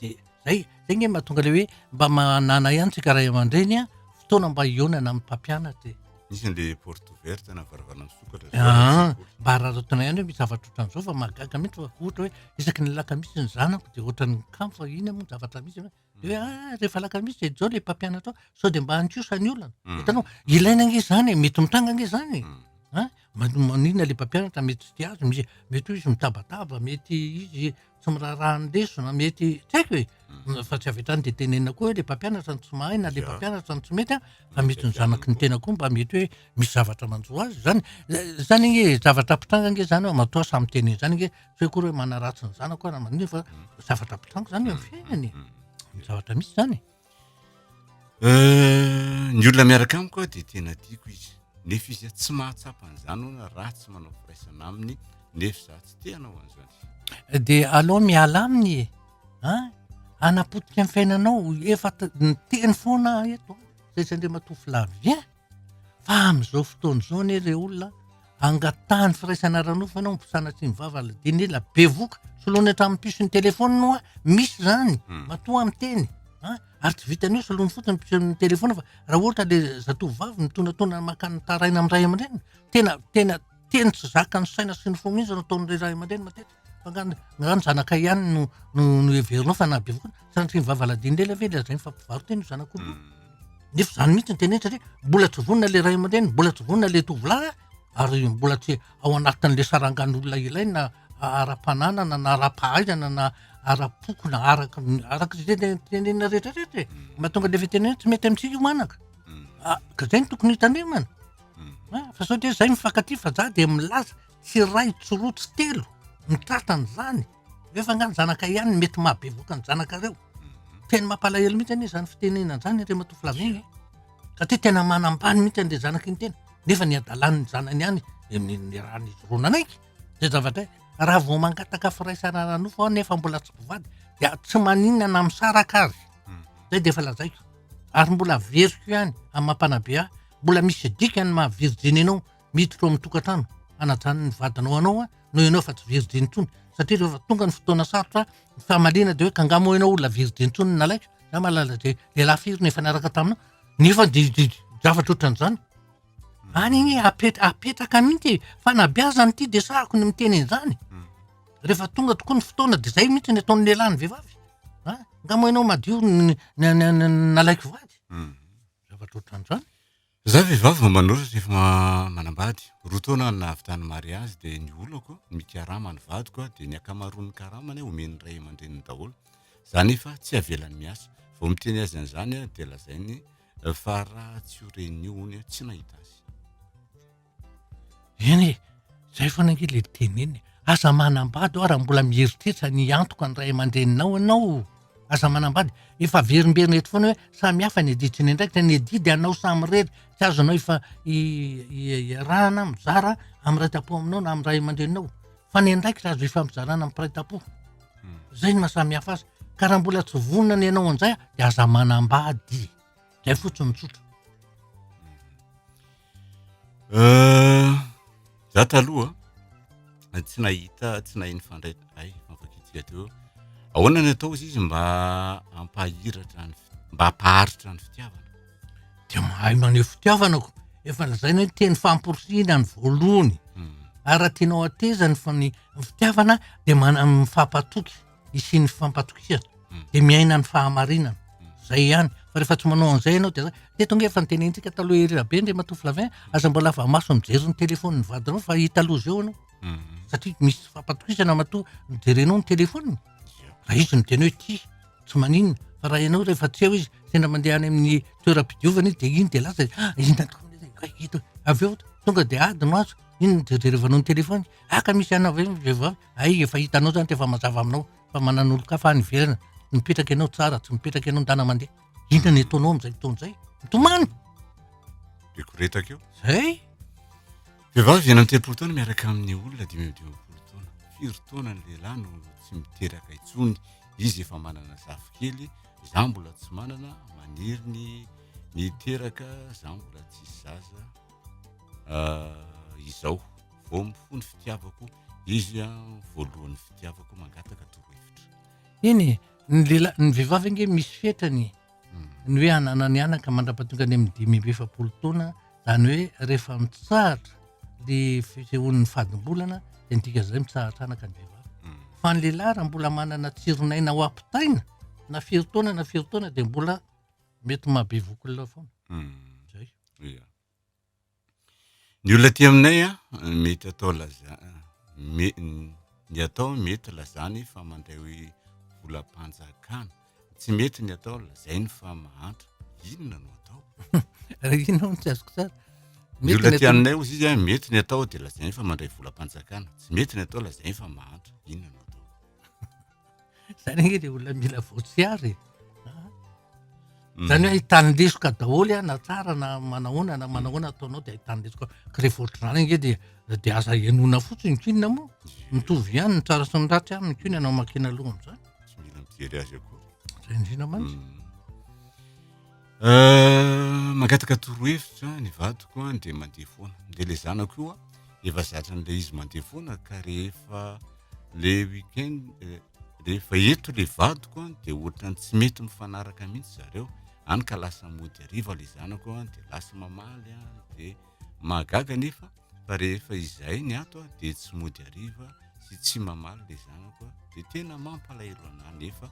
De zay, zay nge mahatonga le hoe mba manana ihany tsika ray aman-dreny a, fotoana mba hihaonana amin'ny mpampianatra e. Misy le porte ouverte na varavarana misokatra zao any Aa, an-tsekoly. mba araraotina ihany hoe misy zavatra ohatran'zao fa mahagaga mihitsy fa ohatra hoe isaky ny alakamisy ny zanako de ohatran'ny kamo fa ina moa ny zavatra misy hoe de hoe aa rehefa alakamisy de zao le mpampianatra ao sao de mba androsoa ny olana, Hum. hitanao, ilaina ange zany e, mety mitranga ange zany e, Hum. an, maninona le mpampianatra mety tsy tia azy, mety hoe izy mitabataba, mety izy. tsy miraharaha ny lesona mety tsy haiko e mm. fa tsy avy hatrany dia tenenina koa hoe le mpampianatra ny tsy mahay na le mpampianatra ny tsy mety a fa misy ny zanaky ny tena koa mba mety hoe misy zavatra manjo azy zany zany nge zavatra mpitranga nge zany hoe matoa samy teneny zany nge tsy hoe koa hoe manaratsy ny zanako aho na manina fa mm. zavatra mpitranga zany eo amin'ny fiainany mm. zavatra misy zany Euh, ny olona miaraka amiko aho dia tena tiako izy nefa izy a tsy mahatsapa an'izany hoana raha tsy manao firaisana aminy nefa za tsy te hanao an'izany de aleo miala aminy e a hanapotika ny fiainanao efa t- ny teny foana aho eto a zay tsy andriamatoa flavien Fa amin'izao fotoana izao anie ilay olona angatahan'ny firaisana ara-nofo ianao mbo sanatria ny vava ilay dia nila bevoka soloany hatramin'ny puce ny telefaony no a misy izany Hmm. matoa miteny a ary tsy vitan'ny hoe soloany fotsiny puce ny telefaony fa raha ohatra ilay zatovovavy mitonatona maka ny taraina amin'ny ray aman-dreniny tena tena teny tsy zakan'ny saina sy ny fo mihitsy no ataon'ireo ray aman-dreny matetika Angamba angamba ny zanakay ihany no no no heverinao fa nahabevoka anao. Sanatria ny vava lazain'i Lela ve lazainy fa mpivarotena io zanak'omby io. Nefa izany mihitsy no teneniny satria mbola tsy vonona ilay ray aman-dreny, mbola tsy vonona ilay tovolahy ary mbola tsy ao anatin'ilay sarangan'olona ilaina ara-pananana na ara-pahaizana na ara-poko na araka ny araka izay te- tenenina rehetrarehetra e. Mahatonga an'ilay fitenenana tsy mety amintsika io manaka. Ah, ka izay no tokony hitandremana. Ah, fa sao dia izay mifankatia fa za dia milaza Tsy iray, tsy roa, tsy telo ny tratran' izany. Nefa angaha ny zanakay ihany no mety maha bevoka ny zanakareo. Tena mampalahelo mihitsy anie izany fitenenana izany an, Andriamatoa Flavien a! Satria tena manambany mihitsy an'ilay zanaka iny tena, nefa ny hadalan'ny zanany ihany no niarahan'izy roa nanaiky izay zavatra izay. Raha vao mangataka firaisana ara-nofo aho nefa mbola tsy mpivady dia tsy maninona na misaraka aza. Izay dia efa lazaiko. Ary mbola averiko ihany amin'ny maha mpanabe ahy, mbola misy dikany ny maha virjiny anao miditra ao amin'ny tokantrano hanajany ny vadinao anao a noho ianao efa tsy virjiny intsony satria rehefa tonga ny fotoana sarotra ny famaliana dia hoe ka nga moa ianao olona virjiny intsony ny nalaiko za mahalala dia lehilahy firy no efa niaraka taminao nefa dia dia zavatra ohatran'izany any anie apet- apetraka mihitsy e. fanabeazana ity dia sahako ny miteny an'izany rehefa tonga tokoa ny fotoana dia zay mihitsy ny ataon'ny lehilahy ny vehivavy a nga moa ianao madio ny ny- ny- ny- ny nalaiko vady zavatra ohatran'izany Izaho vehivavy vao manoro sy efa manambady. Roa taona aho no nahavitany mariazy dia ny olako no mikarama ny vadiko dia ny ankamaroan'ny karamany omen'ny ray aman-dreniny daholo. Izaho anefa tsy avelany miasa. Vao miteny azy an'izany aho dia lazainy fa raha tsy ho ren'io hono aho tsy nahita azy. Eny e, izay foana ange ilay teny eny e, aza manambady ho'a raha mbola mieritreritra ny hiantoka ny ray aman-dreninao ianao, aza manambady, efa averimberina eto foana hoe samy hafa ny adidy sy ny andraikitra, ny adidy anao samirery, tsy azonao ifa- i- i- iarahana mizara amin'ny ray tam-po aminao na amin'ny ray aman-dreninao, fa ny andraikitra azo ifampizarana amin'ny mpiray tam-po, izay no maha samy hafa azy, ka raha mbola tsy vonona ny hanao an'izay dia aza manambady, izay fotsiny tsotra. Za taloha a, tsy nahita tsy nahay nifandray hay mankafy atô, ahoana ny atao hozy izy mba hampahiratra ny fi- mba hampaharitra ny fitiavana? Dia mahay maneho fitiavana ko, efa lazaina hoe teny famporisihina ny voalohany ary raha tianao hateza ny fa- ny fitiavana dia mana- mifampatoky. hisian'ny fifampatokisana dia miaina ny fahamarinana zay ihany fa rehefa tsy manao an'izay ianao dia zay teto ange efa nitenenintsika taloha ery rabe ndry matoa Flavien aza mbola lava maso mijery ny telefaoniny vadinao fa hita aloha zao ianao hmm. satria misy fifampatokisana matoa mijerenao ny telefaoniny raha izy miteny hoe tia tsy maninona fa raha ianao rehefa tsy eo izy sendra mandeha any amin'ny toeram-pidiovana izy dia iny dia lasa ah, inona tokoa ito avy eo tonga dia ady no azo iny jerjerevanao ny telefaony aka ah, misy anavy vehivavy Hay efa hitanao izany dia efa mazava aminao fa manana olon-kafa any ivelany, tsy mipetraka ianao tsara, tsy mipetraka ianao ndana mandeha. Inona no ataonao amin'izay fotoana izay? Mitomany! Dia koretaka eo. Izay! Vehivavy enina amby telopolo taona miaraka amin'ny olona dimy amby dimampolo taona. Firy taona ny lehilahy no tsy miteraka intsony? Izy efa manana zafikely, izaho mbola tsy manana, maniry ny ny hiteraka, izaho mbola tsisy zaza. ah, izao vao mifoha ny fitiavako izy a voalohan'ny fitiavako mangataka torohevitra eny e, ny lehilahy ny vehivavy ange misy fetrany hmm. ny hoe ananany anaka mandrapatonga any amin'ny dimy amby efapolo taona zany hoe rehefa mitsahatra le fisehon'ny fadimbolana de midika zay mitsahatra anaka ny vehivavy hmm. fa ny lehilahy raha mbola manana tsironaina ho ampitaina na firy taona na firy taona de mbola Mety maha bevoka olona foana. Zay. Ia. Ny olona aty aminay a, mety atao laza- me- ny atao mety lazany fa mandray hoe volam-panjakana. Tsy mety ny atao lazainy fa mahantra. Inona no atao? Inona hono tsy azoko tsara? Ny Mety olona ny aty atao- aminay ozy izy a, mety ny atao dia lazainy fa mandray volam-panjakana. Tsy mety ny atao lazainy fa mahantra. Inona no atao? Zany anie le olona mila voatsiary e. Mm. Zany hoe ahitany lesoka daholo a na tsara na manahoana na manahoana ataonao de ahitany lesoka ka rehefa ohatr'izany ange de de aza henona fotsiny ny kinina moa mitovy ihany ny tsara sy ny ratsy aminy ko ny anao makina aloha am'zany tsy mila mijery azy akory zay indrindra mantsy mm. Mangataka torohevitra ny vadiko dia mandeha foana, dia ilay zanako io efa zatran'ilay izy mandeha foana ka rehefa le week-end rehefa eto ilay vadiko dia ohatran'ny tsy mety mifanaraka mihitsy zareo, any ka lasa mody hariva ilay zanako dia lasa mamaly dia mahagaga anefa. fa rehefa izay ny ato aho dia tsy mody ariva sy tsy mamaly le zanako aho dia tena mampalahelo anah nefa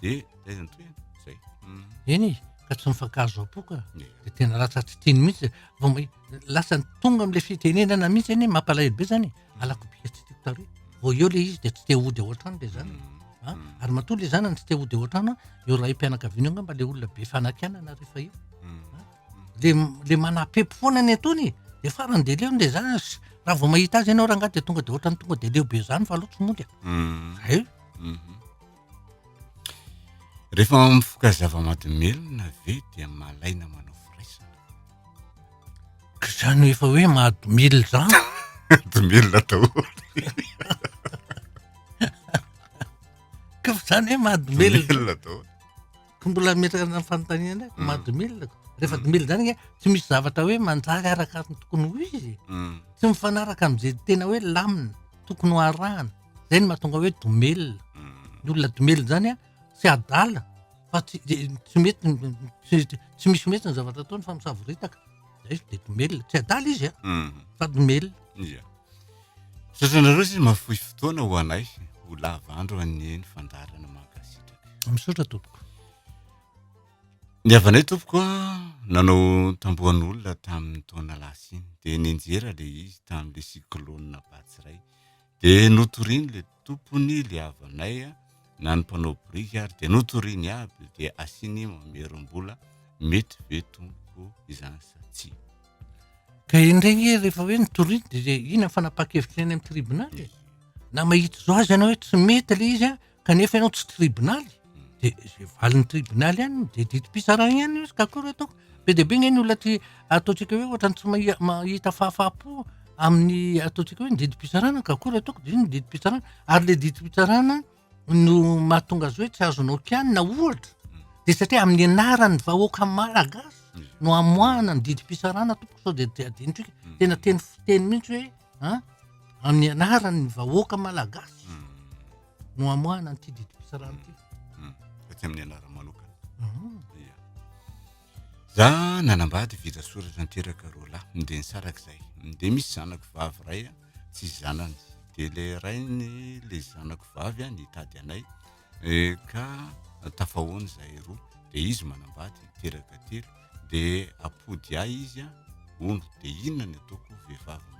dia taiza ny tohina zay hmm. eny ka tsy mifankahazo am-poka dia tena lasa tsy teny mihitsy vao mba lasa tonga am'le fitenenana mihitsy eny mampalahelo be zany hmm. alako bika tsy tiko tary vao eo le izy dia tsy te hody ao an-trano le zany hmm. Ah, hmm. ary matoa le zanany tsy te hody ao an-trano eo raim-pianakaviana eo nga mba le olona be fanakianana rehefa eo le le manapepy foana ny atony e de farany de leo ny le zany s- raha vao mahita azy ianao rangahy de tonga de ohatrany tonga de leo be zany fa aleo tsy mody a Hum. zay Mhm. Rehefa mifoka zava-mahadomelina ve dia malaina manao firaisana? ka zany efa hoe mahadomelina zany Domelina daholo. ka fa zany hoe mahadomelina Domelina daholo. Ko mbola ametraka ny fanontaniana ndray, mm. mad mil ko. Rehefa mm. mil zany tsy misy zavatra hoe manjary araka ny tokony ho izy. Mm. Tsy mifanaraka amin'izay tena hoe lamina, tokony ho arahana. Zay ny mahatonga hoe domel. Ny olona domel zany a, tsy adala fa tsy tsy mety tsy misy mety ny zavatra ataony fa misavoritaka. Zay de domel, tsy adala izy a. Fa domel. Misaotra anareo sisa mahafoy fotoana ho anay, ho lava andro anie ny fandaharana mankasitraka. Misaotra tompoko. Ny havanay tompoko an, nanao tambohan'olona tamin'ny taona lasa iny, dia nianjera ilay izy tamin'ilay cyclone Batsirai, dia notorian'ilay tompony ilay havanay an. na ny mpanao biriky ary dia notoriny aby dia asiany mamerim-bola mety ve tompoko izany sa tsia. Ka indray nge rehefa hoe notoriny dia ina fanapakevitra eny amin'ny tribonaly e? Na mahita izao aza ianao hoe tsy mety ilay izy kanefa ianao tsy tribonaly dia izay valin'ny tribonaly ihany dia didim-pitsarana ihany izy ka akory ataoko. Be dia be anie ny olona aty ataontsika hoe ohatran'ny tsy mahi- mahita fahafaha-po amin'ny ataontsika hoe ny didim-pitsarana ka akory ataoko dia iny ny didim-pitsarana ary le didim-pitsarana no mahatonga azy hoe tsy azonao kianina ohatra de satria amin'ny anaran'ny vahoaka malagasy no amoahana ny didim-pitsarana tompoko sao dia dia adinotro ika tena teny fiteny mihitsy hoe a amin'ny anaran'ny vahoaka malagasy no hamoahana an'ity didim-pitsarana ity. Hmm. Taty amin'ny anarany manokana. Hmm. Ia. Za nanambady vita soratra niteraka roa lahy, mindeha nisaraka izay. Mindeha misy zanako vavy ray a, tsy zanany. Dia le rainy le zanako vavy a nitady anay eh, ka tafahoana izahay roa. Dia izy manambady niteraka telo. Dia apody ahy izy a, ono. Dia inona ny ataoko vehivavy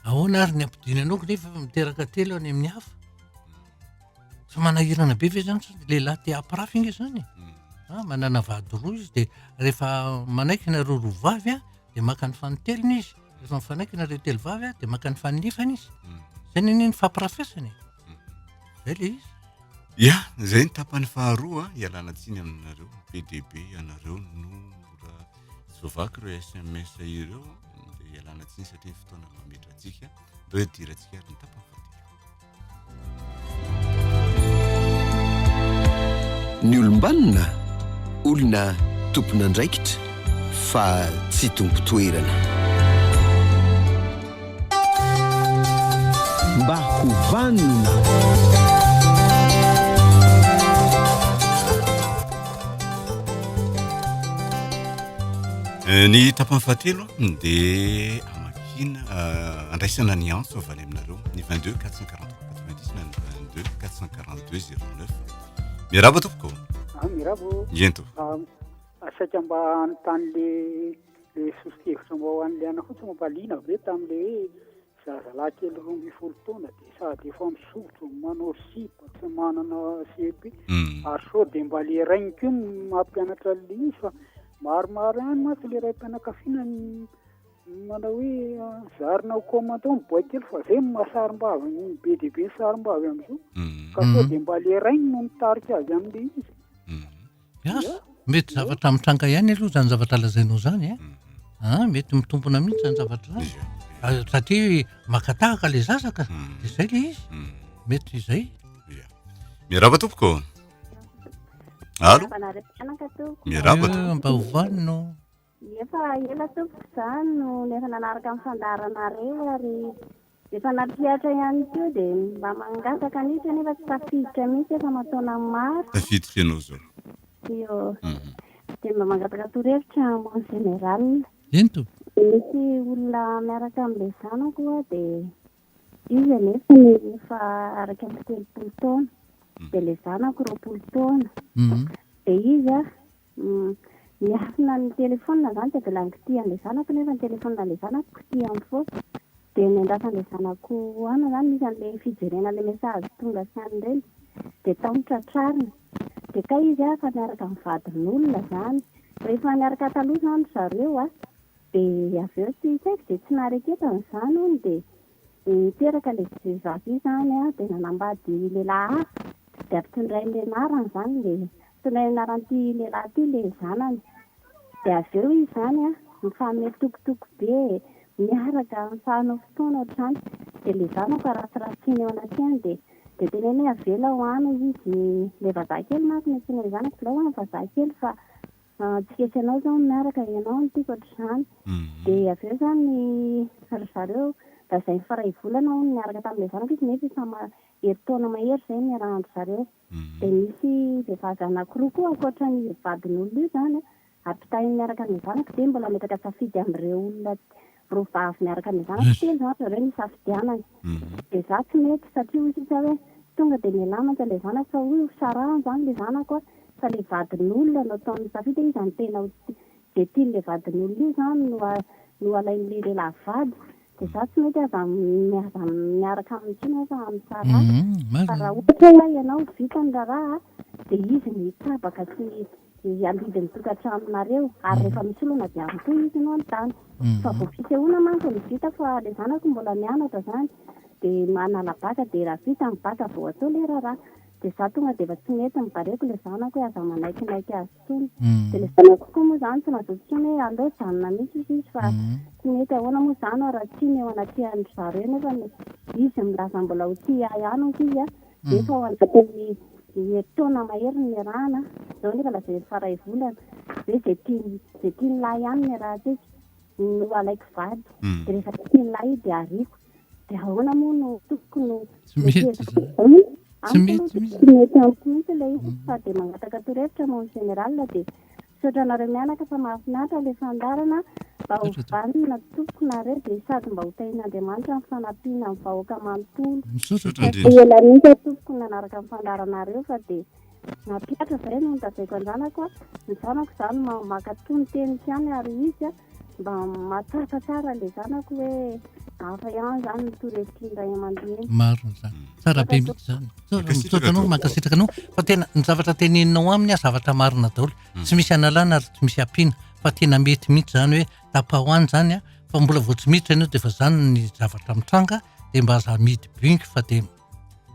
Ahoana ary ny ampodiany anao nefa miteraka telo any amin'ny hafa? Tsy manahirana be ve zany sady lehilahy te hampirafy ange zany e? Hmm. Ah, manana vady roa izy dia rehefa manaiky nareo roa vavy a dia maka ny fanintelony izy rehefa mifanaiky nareo telo vavy a dia maka ny faninefany izy hmm. zay ny ny fampirafesana e hmm. zay le izy ya zay ny tapany faharoa ialana tsiny aminareo pdb ianareo no Tsy voavaky ireo SMS ireo dia ialana tsiny satria ny fotoana mametratsika dia hoe dirantsika ary ny tapany fadika. Ny olombanona olona tompon'andraikitra fa tsy tompon-toerana. Mba ho vanona. Eh, ny tapany fahatelo dia amakina eh, andraisana ny antso avy any aminareo ny 22 443 na ny 22 442 09 miaraba tompoko ah, miaraba ento ah, asaika mba hanontany le Ilay soso-kevitra mba ho an'i Liana fotsiny mba liana ve tamin'ilay hoe zazalahy kely roa ambin'ny folo taona dia sady efa misotro, manao sipa, tsy manana CEP mm. ary sao dia mba le rainy koa no mampianatra an'ilay izy fa maromaro ihany mantsy ilay raim-pianakaviana manao hoe ah, zarina ho commandant ny boay kely fa zay no mahasarim-bavy ny be dia be ny sarim-bavy amin'izao mm. ka sao mm. dia mba le rainy no mitarika azy amin'ilay izy mm. Yah, mety zavatra mitranga ihany aloha zany zavatra lazainao zany a, ah mety mitombona mihitsy zany zavatra zany, ah satria maka tahaka le zaza ka, de zay le izy, mety zay. Yah, miarahaba tompoko. Allo, miarahaba tompoko. Mba ovaly no. Efa ela tompoko izaho no efa nanaraka ny fandaharanareo ary efa nampihatra ihany koa dia mba mangataka mihitsy anefa tsy tafiditra mihitsy efa aman-taona maro. Tafiditra ianao izao. Io. Dia mba mangataka torohevitra mon général. Eny tompoko. Misy olona miaraka amin'ilay zanako ho'a dia izy anefany efa araka ny telopolo taona dia ilay zanako roapolo taona dia izy Miafina ny telephone zany dia mbola kitihan ilay zanako nefa ny telephone ilay zanako kitihany foana dia ny andrasan ilay zanako ana zany misy anle fijerena ilay message tonga sy any reny dia tao no tratrariny dia kay izy fa miaraka amin'ny vadin'olona zany rehefa niaraka taloha zany ry zareo dia avy eo tsy saiko dia tsy nahareketany zany hono dia Niteraka an'ilay vehivavy io izany dia nanambady lehilahy hafa dia ampitondrainy ilay anarany izany dia tondrainy anaran'ity lehilahy ity ilay zanany dia avy eo izy izany mifanome tokotoko be miaraka mitsahanao fotoana ohatr'izany dia ilay zanaka rasirasiny eo anatreany dia dia teneniny hoe avela ho any hoy izy ilay vazaha kely manko no antsoina ilay zanaka avela ho any vazaha kely fa Tsy kesy anao zao miaraka ianao no tiako ohatr'izany de avy eo zany ry zareo lazainy fa ray volana hono niaraka tamin'ilay zanako izy nefa efa herintaona mahery zay niarahan-dry zareo de nisy vehivavy anankiroa koa ankoatra ny vadin'olona io zany ampitahainy miaraka amin'ilay zanako de mbola miezaka safidy amin'ireo olona roa vavy miaraka amin'ny zanako telo zany ry zareo nisafidianana dia za tsy mety satria hoy sisa hoe tonga dia mialà mantsy an'ilay zanako fa hoy hosarahany zany ilay zanako a fa ilay vadin'olona no ataony misafidy hoe iza no tena ho izay tian'ilay vadin'olona io zany no no alain'ilay lehilahy vady dia za tsy mety aza aza miaraka aminy intsony hoe fa misaraha fa raha ohatra hoe ianao vita ny raharaha dia izy no hitsabaka sy dia handidy ny tokantranonareo ary rehefa misy olana dia harotoy izy no hanontany fa vao fisehoana manko no vita fa ilay zanako mbola mianatra izany dia manala bacc dia raha vita ny bacc vao atao ilay raharaha dia izaho tonga dia efa tsy mety mibareko ilay zanako hoe aza manaikinaiky azy intsony dia ilay zanako koa moa izany tsy nazoto intsony hoe aleo hijanona mihitsy hoy izy fa tsy mety ahoana moa izany aho raha tsia ny eo anatrehan-dry zareo nefa izy milaza mbola ho tia ahy ihany hoy izy a Efa mm. ao anatin'ny herintaona mahery ny niarahana, izao nefa lasa efa iray volana. Hoe izay tiany izay tiany lahy ihany ny niarahantsika no alaiko vady. Mm. Dia rehefa tsy tiany lahy dia ariako. Dia ahoana moa no tokoko no tsy mety tsy mety mihitsy ilay fa dia mangataka torohevitra mon général dia Misaotra anareo mianaka fa mahafinaritra ilay fandaharana mba ho vanona tompoko nareo dia sady mba ho tahian'Andriamanitra ny fanampiana ny vahoaka manontolo. Tafio ela mihitsy aho tompoko nanaraka ny fandaharanareo fa dia nampihatra izay no notajaiko anjanako a, ny zanako izany maka toa ny teniko ihany ary izy a. Mba mahatsapa tsara ilay zanako hoe hafa ihany izany ny touristin ray aman-dreny. Marina izany. Tsara be mihitsy izany. Misaotra anao, mankasitraka anao. Fa tena ny zavatra teneninao aminy zavatra marina daholo. Hmm. Tsy misy analana ary tsy misy ampiana. Fa tena mety mihitsy izany hoe tapaho any izany fa mbola vao tsy miditra ianao dia efa izany ny zavatra mitranga dia mba aza midy binky fa dia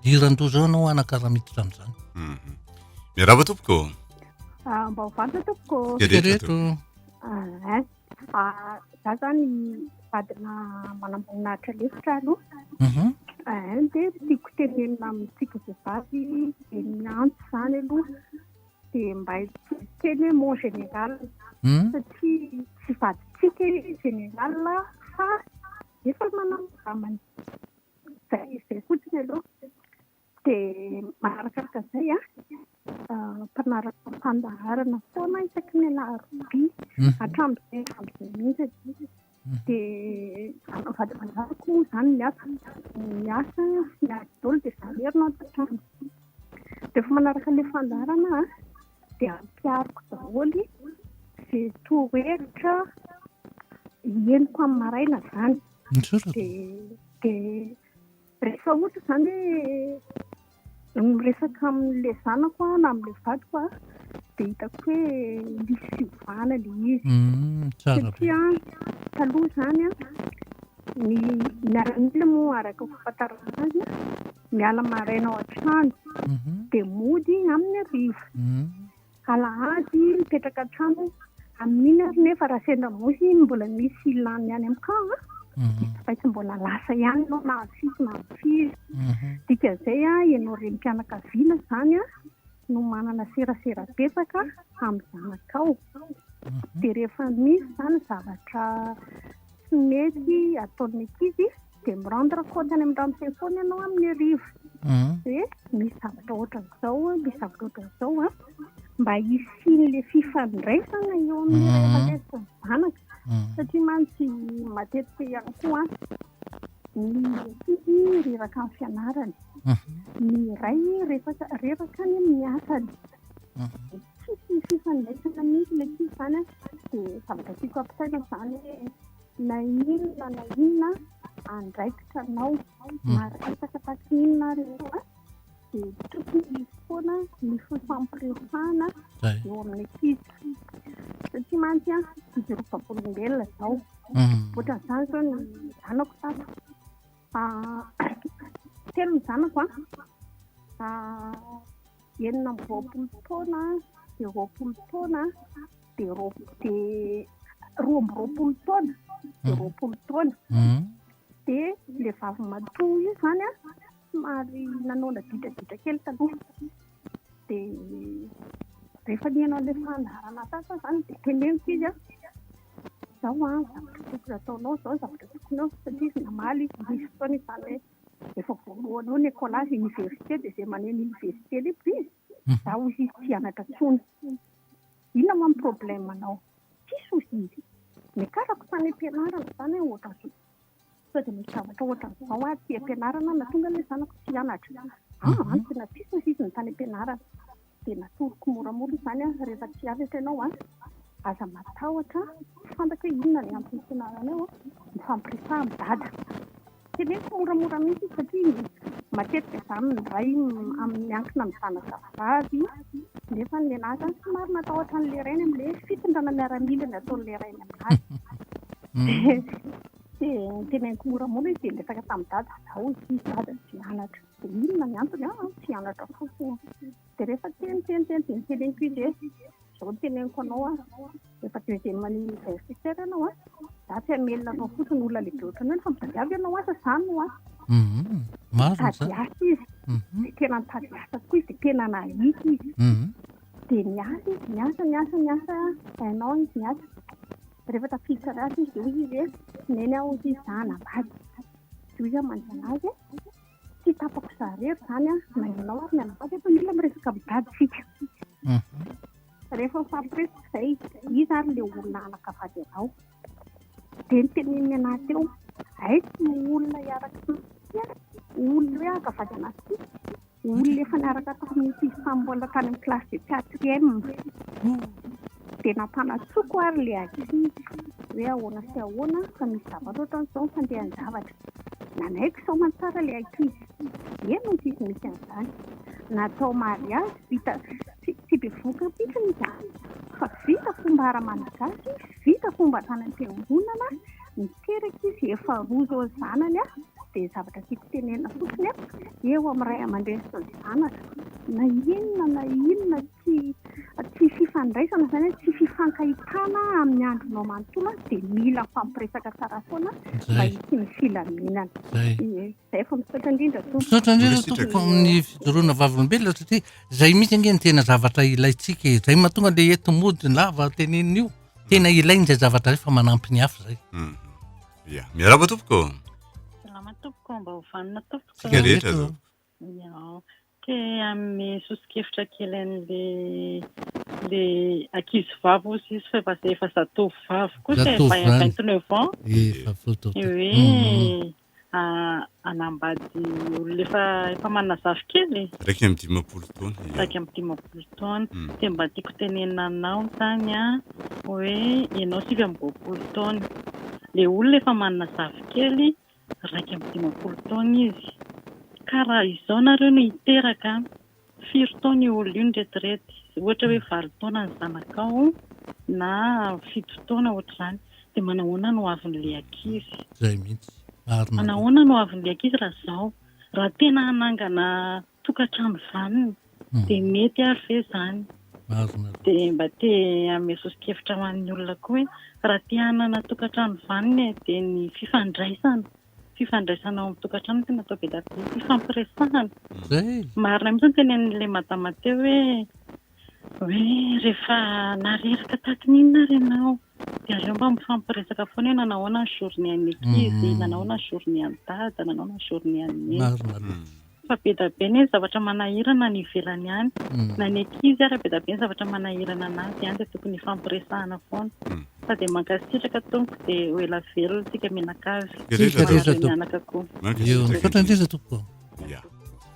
diran-doza eo anao anakaraha miditra amin'izany. Hmm. Miarahaba tompoko. Ah, mba ho vantatra tompoko. Ereto. Za zany vadina manamboninahitra lefitra aloha. Mhm. Dia tiako tenenina amintsika vehivavy dia ny antso izany aloha dia mba hiteny hoe mon général hmm? satria tsy vadintsika i général fa efa manamboninahitra izay izay fotsiny aloha. Dia manarakaraka izay an, mpanaraka fandaharana foana isaky ny alarobia hatramin'izay hatramin'izay mihitsy. Dia vady aman-janako moa izany ny asa, ny asa sy ny ady daholo dia zaverina ao an-tokantrano. Dia efa manaraka ilay fandaharana an, dia ampihariko daholo izay torohevitra henoko amin'ny maraina izany. Dia dia Rehefa ohatra izany hoe miresaka amin'ilay zanako aho na amin'ilay vadiko aho dia hitako hoe misy fiovana ilay izy. Mm, Satria taloha izany ny miaramila moa araka fahafantarana azy miala maraina ao an-trano mhm. dia mody amin'ny arivo. Mm. Alahady mipetraka an-trano amin'iny ary nefa raha sendra moa iny mbola misy ilany any amin'ny camp a mhm. tsy maintsy mbola lasa ihany ianao na avy firy na avy firy mhm. dikan'izay a ianao renim-pianakaviana izany a no manana serasera betsaka amin'ny zanakao mhm. dia rehefa misy izany zavatra tsy mety ataon'ny ankizy dia mi rendre compte any amin'ny rano fay foana ianao amin'ny hariva mhm. hoe misy zavatra ohatran'izao a misy zavatra ohatran'izao a mba hisian'la fifandraisana eo amin'ny ray mhm. aman-dresaka ny zanaka satria mantsy matetika ihany koa ny sisy reraka ny fianarany ny ray reraka reraka ny amin'ny asany tsisy fifandraisana mihitsy le tsisy zany a dia zavatra tiako ampisaina zany hoe Na inona na inona andraikitra anao, hmm. maresaka taty inona ary ianao dia tokony hisy foana ny fifampiresahana eo amin'ny ankizy. Satria mantsy an, izy roa vavolombelona izao. Hmm. Ohatra izany izao ny zanako tato. Ah, telo ny zanako an. Ah, enina amby roapolo taona dia roapolo taona dia roa amby roapolo taona dia mhm. roapolo taona mhm. dia le vavy matoa io zany a somary nanao naditraditra kely taloha dia rehefa nihaino an'ilay fandaharana sasa zany dia teneniko izy a zao a zavatra tokony ataonao zao zavatra tokony ao satria izy namaly izy misy fotoana izany hoe efa voalohany eo ny écolage université dia izay maneno université lehibe izy Izaho hoy izy tsy hianatra intsony. Inona moa ny problème anao? Tsisy hoy izy. Niakarako tany am-pianarana izany aho ohatran'izao. Sao dia misy zavatra ohatran'izao aty am-pianarana nahatonga ilay zanako tsy hianatra. An, an, tena tsisy hoy izy ny tany am-pianarana. Dia natoroko moramora izany aho, rehefa tsy hianatra ianao an, aza matahotra an, tsy fantatro hoe inona ny antony tsy hianaranao an, mifampiresaha amin'i Dada. Tsy misy moramora mihitsy satria matetika izany ny ray miankina amin'ny zanaka vavy nefa ny lehilahy izany somary matahotra an'ilay rainy amin'ilay fitondrana miaramila ny ataon'ilay rainy amin'azy dia niteneniko moramora izy dia niresaka tamin'i dada, hoy izy dada tsy hianatra, dia inona ny antony an, tsy hianatra fotsiny. Dia rehefa teny teny teny dia niteneniko izy hoe izao no teneniko anao an, efa deuxième année universitaire ianao an, za tsy hamelona anao fotsiny olona lehibe ohatranao ny fa mitadiavy ianao asa izany no asa. Mhm, marina izany. Nitady asa izy, mhm. dia tena nitady asa tokoa izy dia tena nahita izy. Mhm. Dia niasa izy, niasa, niasa, niasa, un an izy niasa. Rehefa tafiditra anaty izy dia hoy izy hoe neny aho hoy izy za hanambady. Dia hoy izy aho manontany azy hoe Tsy tapako za rery izany an, na ianao ary ny anabavy efa mila miresaka amin'ny dadintsika. Mhm. Rehefa mifampiresaka izay, iza ary ilay olona hanakavady anao? Dia notenenin'ny anah teo, aiky no olona hiaraka tamintsika, olona hoe hankavady anantsika, olona efa niaraka tamin'ny ankizy tamin'ny mbola tany amin'ny classe de quatrième. tsy dia nampanatsoko ary ilay ankizy hoe ahoana sy ahoana fa misy zavatra ohatran'izao ny fandehan-javatra. Nanaiky sao aman-tsara ilay ankizy. Eny, hoy izy misy an'izany. Natao mariazy vita tsy bevohoka mihitsy izany fa vita fomba ara-malagasy, vita fomba tany am-piangonana, niteraka izy, efa roa izao ny zanany dia zavatra tiako tenenina fotsiny eo amin'ny ray aman-dreny sy ny zanaka na inona na inona tsy tsy fifandraisana izany hoe tsy fifankahitana amin'ny andronao manontolo an, dia mila mifampiresaka tsara foana mba Zay. hisy ny filaminana. Zay. Ie, Izay fa misaotra indrindra tompoko. Misaotra indrindra Merci, tompoko Jack. amin'ny fijoroana vavolombelona satria zay mihitsy ange ny tena zavatra ilaintsika e. Zay mahatonga le eto mody lava tenenina io. Tena ilain'izay zavatra zay fa manampy ny hafa zay. Mhm. Ia. Miarahaba tompoko. Salama tompoko, mba ho vanona tompoko. Tsika rehetra Eto. zao. Iao. Te hanome soso-kevitra kely an'ilay ankizivavy hozy izy fa efa zatovovavy kosa e, vay à vingt neuf ans, ny hoe hanambady olona efa efa manana zafikely e, iraika amby dimampolo taona, iao. Iraika amby dimampolo taona. Dia mba tiako tenenina anao izany an, hoe ianao sivy amby roapolo taona, ilay olona efa manana zafikely Iraika amby dimampolo taona izy. Ka raha izao nareo no hiteraka an! Firy taona io olona io no retirety? Ohatra hoe valo taona ny zanakao na fito taona ohatr'izany dia manahoana no ho avin'ilay ankizy? Izay mihitsy. Ary nareo. Manahoana no ho avin'ilay ankizy raha izao? Raha tena hanangana tokantrano vanona dia mety ary ve izany? Dia mba te hanome soso-kevitra ho an'ny olona koa hoe raha te hanana tokantrano vanona e, dia ny fifandraisana, fifandraisana ao amin'ny tokantrano no tena atao be dia be, hifampiresahana. Marina mihitsy ny tenenin'ilay madama teo hoe. Hoe rehefa na reraka tahaky ny inona ary ianao dia aleo mba mifampiresaka foana hoe nanahoana ny journée an'ny ankizy, nanahoana ny journée an'i dada, nanahoana ny journée an'i neny. Marina loatra. Fa be da be ny zavatra manahirana any ivelany any, na ny ankizy ary be da be ny zavatra manahirana anazy any dia tokony hifampiresahana foana. Fa dia mankasitraka tompoko dia ho ela velona isika mianakavy, manadre mianaka koa. Mankasitraka indrindra. Misaotra indrindra tompoko. Ya.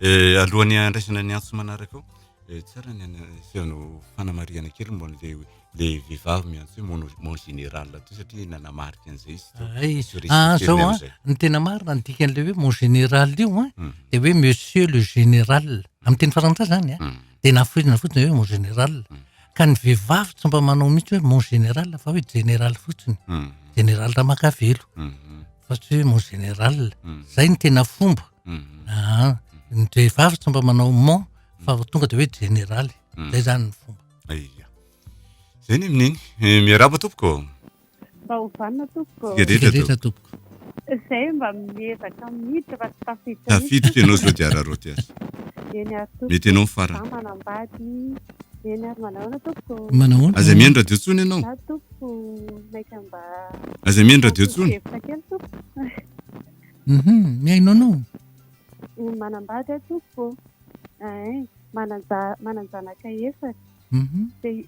Eh, alohan'ny handraisana ny antso manaraka ao, eh, tsara ny ana- asehonao fanamarihana kely momba an'ilay ilay vehivavy miantso hoe mon mon général teo satria nanamarika an'izay izy teo. Ay, Tsy ho ah, respecter-ny zao an, amin'izay. ny tena marina ny dikan'ilay hoe mon général io an, Mm, dia hoe monsieur le général. Amin'ny teny frantsay zany an, mm, dia nafoizina fotsiny hoe mon général. Mm. Ka ny vehivavy tsy mba manao mihitsy hoe mon général fa hoe général fotsiny. mm, Général Ramakavelo mm, mm, Fa tsy hoe mon général. mm. Zay ny tena fomba. aa ny vehivavy tsy mba manao mon fa vao tonga dia hoe jeneraly zay zany ny fomba aia zay ny amin'iny eh, miaraba tompoko mba ho vanina tompoko tsigadritra tompoko zay mba miezaka miditra fa tsy tafiditra tafiditra ianao zao dia araroty azy eny ary tompoko mety ianao farany manambady eny ary manahoana tompoko manahoana aza mihaino radio tsony ianao za tompoko maika mba aza mihaino radio tsony hevitra kely tompoko Uhum, mihaino anao. Ny manambady aho tompoko eeh, manan-janaka efatra. Uhum. Dia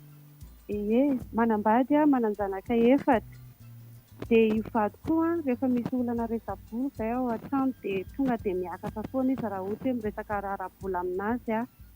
ie, manambady aho, manan-janaka efatra. Dia io vadiko koa rehefa misy olana resa-bola izay ao an-trano dia tonga dia miakatra foana izy raha ohatra hoe miresaka raharaha-bola amin'azy aho.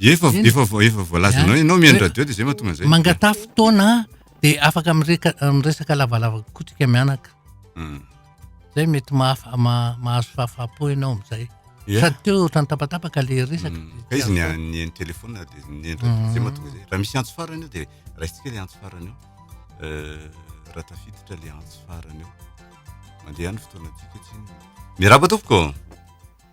Efa efa efa voalazanao ianao mihaino radio dia zay mahatonga an'izay. Mangataha fotoana dia afaka mireka miresaka lavalava kotrika mianaka. Hmm. Zay mety mahafa mahazo fahafapo ianao amin'izay. Sady teo ohatran'ny tapatapaka le resaka. Hmm. Ka izy ny ny telefaona dia ny endra hmm. zay mahatonga izay. Raha misy antso farany eo dia raisitsika le antso farany eo. Euh, raha tafiditra le antso farany eo. Mandeha ny fotoana tsika tsiny. Miarahaba tompoko.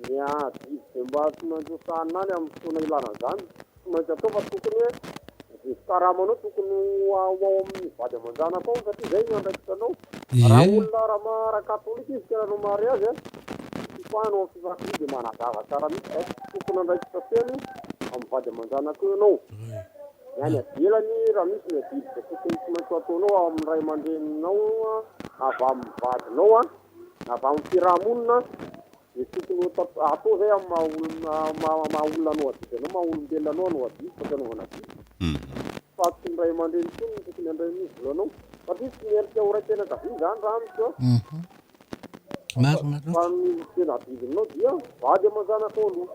Ny adidy dia mba tsy maintsy ho sahanina any amin'ny fotoana ilana an'izany. Tsy maintsy atao fa tokony hoe izay karamanao tokony ho ao amin'ny vady aman-janako ao satria izay no andraikitra anao. Raha olona raha ma raha katolika izy ka raha no mahare azy a, ny fipahana ao amin'ny filankoloy dia manazava tsara mihitsy fa tokony andraikitra feno amin'ny vady aman-janako eo ianao. Ny any avelany raha misy ny adidy izay tokony tsy maintsy ho ataonao ao amin'ny ray aman-dreninao na avy amin'ny vadinao a, na avy amin'ny fiaraha-monina Dia tokony ho atao atao izay amin'ny maha olona maha maha olona anao adidy anao, maha olombelona anao anao adidy fa tsy anaovana adidy. Fa tsy ny ray aman-dreny intsony no tokony handray an'io vola anao satria tsy miendrika ho raim-pianakaviana izany raha amiko an. Fa ny tena adidinao dia vady aman-janakao aloha.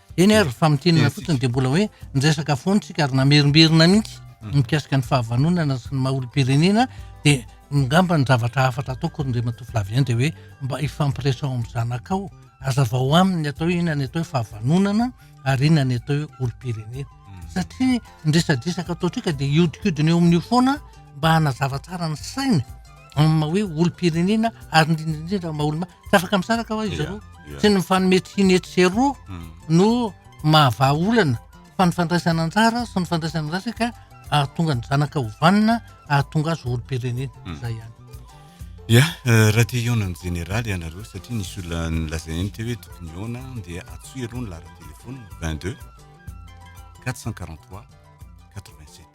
Eny ary, fa mitinina fotsiny dia mbola hoe niresaka foana isika ary namerimberina mihitsy ny mikasika ny fahavanonana sy ny maha olom-pirenena dia ngamba ny zavatra hafatra ataoko Andriamatoa Flavien dia hoe mba ifampiresaho amin'ny zanakao, azavao aminy ny atao hoe inona ny atao hoe fahavanonana ary inona ny atao hoe olom-pirenena. Satria ny resadresaka ataontsika dia iodikodina eo amin'io foana mba hanazava tsara ny sainy amin'ny maha hoe olom-pirenena ary indrindra indrindra maha olom Tsy afaka misaraka ho'a izy roa. Tsy ny mifanome tsihy ny etsy sy eroa no mahavaha olana fa ny fandraisana anjara sy ny fandraisana andrasa ka ahatonga ny zanaka ho vanona, ahatonga azy ho olom-pirenena. Izay ihany. Ya, raha te hihaona amin'ny jeneraly ianareo satria nisy olona nolazainy teo hoe tokony hihaona dia antsoy aloha ny laharan-telefaonina 22 443 87.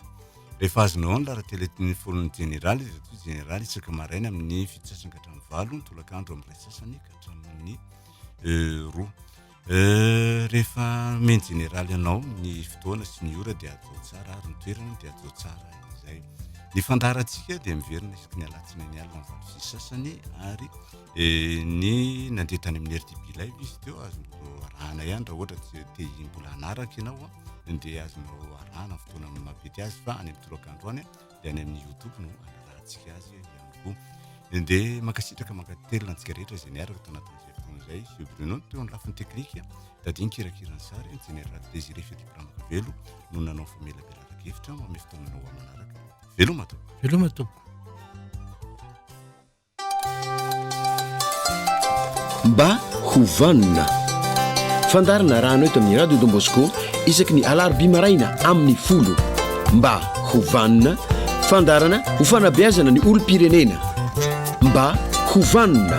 Rehefa azonao ny laharan tele ny forum jeneraly dia toy jeneraly isaka maraina amin ny fito sasany ka hatramin ny valo ny tolak andro amin ny iray sasany ka hatramin ny roa rehefa meny jeneraly anao ny fotoana sy ny ora dia ajao tsara ary ny toerana dia ajao tsara izay ny fandaharantsika dia miverina isaky ny alatsina ny alina ny valo sisy sasany ary eh, ny nandeha tany amin'ny rdp live izy teo azonao arahana ihany raha ohatra te mbola hanaraka ianao dia azonao arahana fotoana mamety azy fa any amin'ny toroka andro any dia any amin'ny youtube no anarahantsika azy ihany koa dia mankasitraka mankatelina antsika rehetra izay niaraka tao anatin'izay fotoana izay fio bruno ny teo ny lafiny teknika tadiany kirakira ny sary ny general désiré fetipiramaka velo no nanao famelabelana kevitra amin'ny fotoana anao amanaraka veloma tompoko veloma tompoko Mba ho vanona. Fandaharana arahana eto amin'ny Radio Don Bosco isaky ny alarobia maraina amin'ny folo. Mba ho vanona. Fandaharana ho fanabeazana ny olom-pirenena. Mba ho vanona.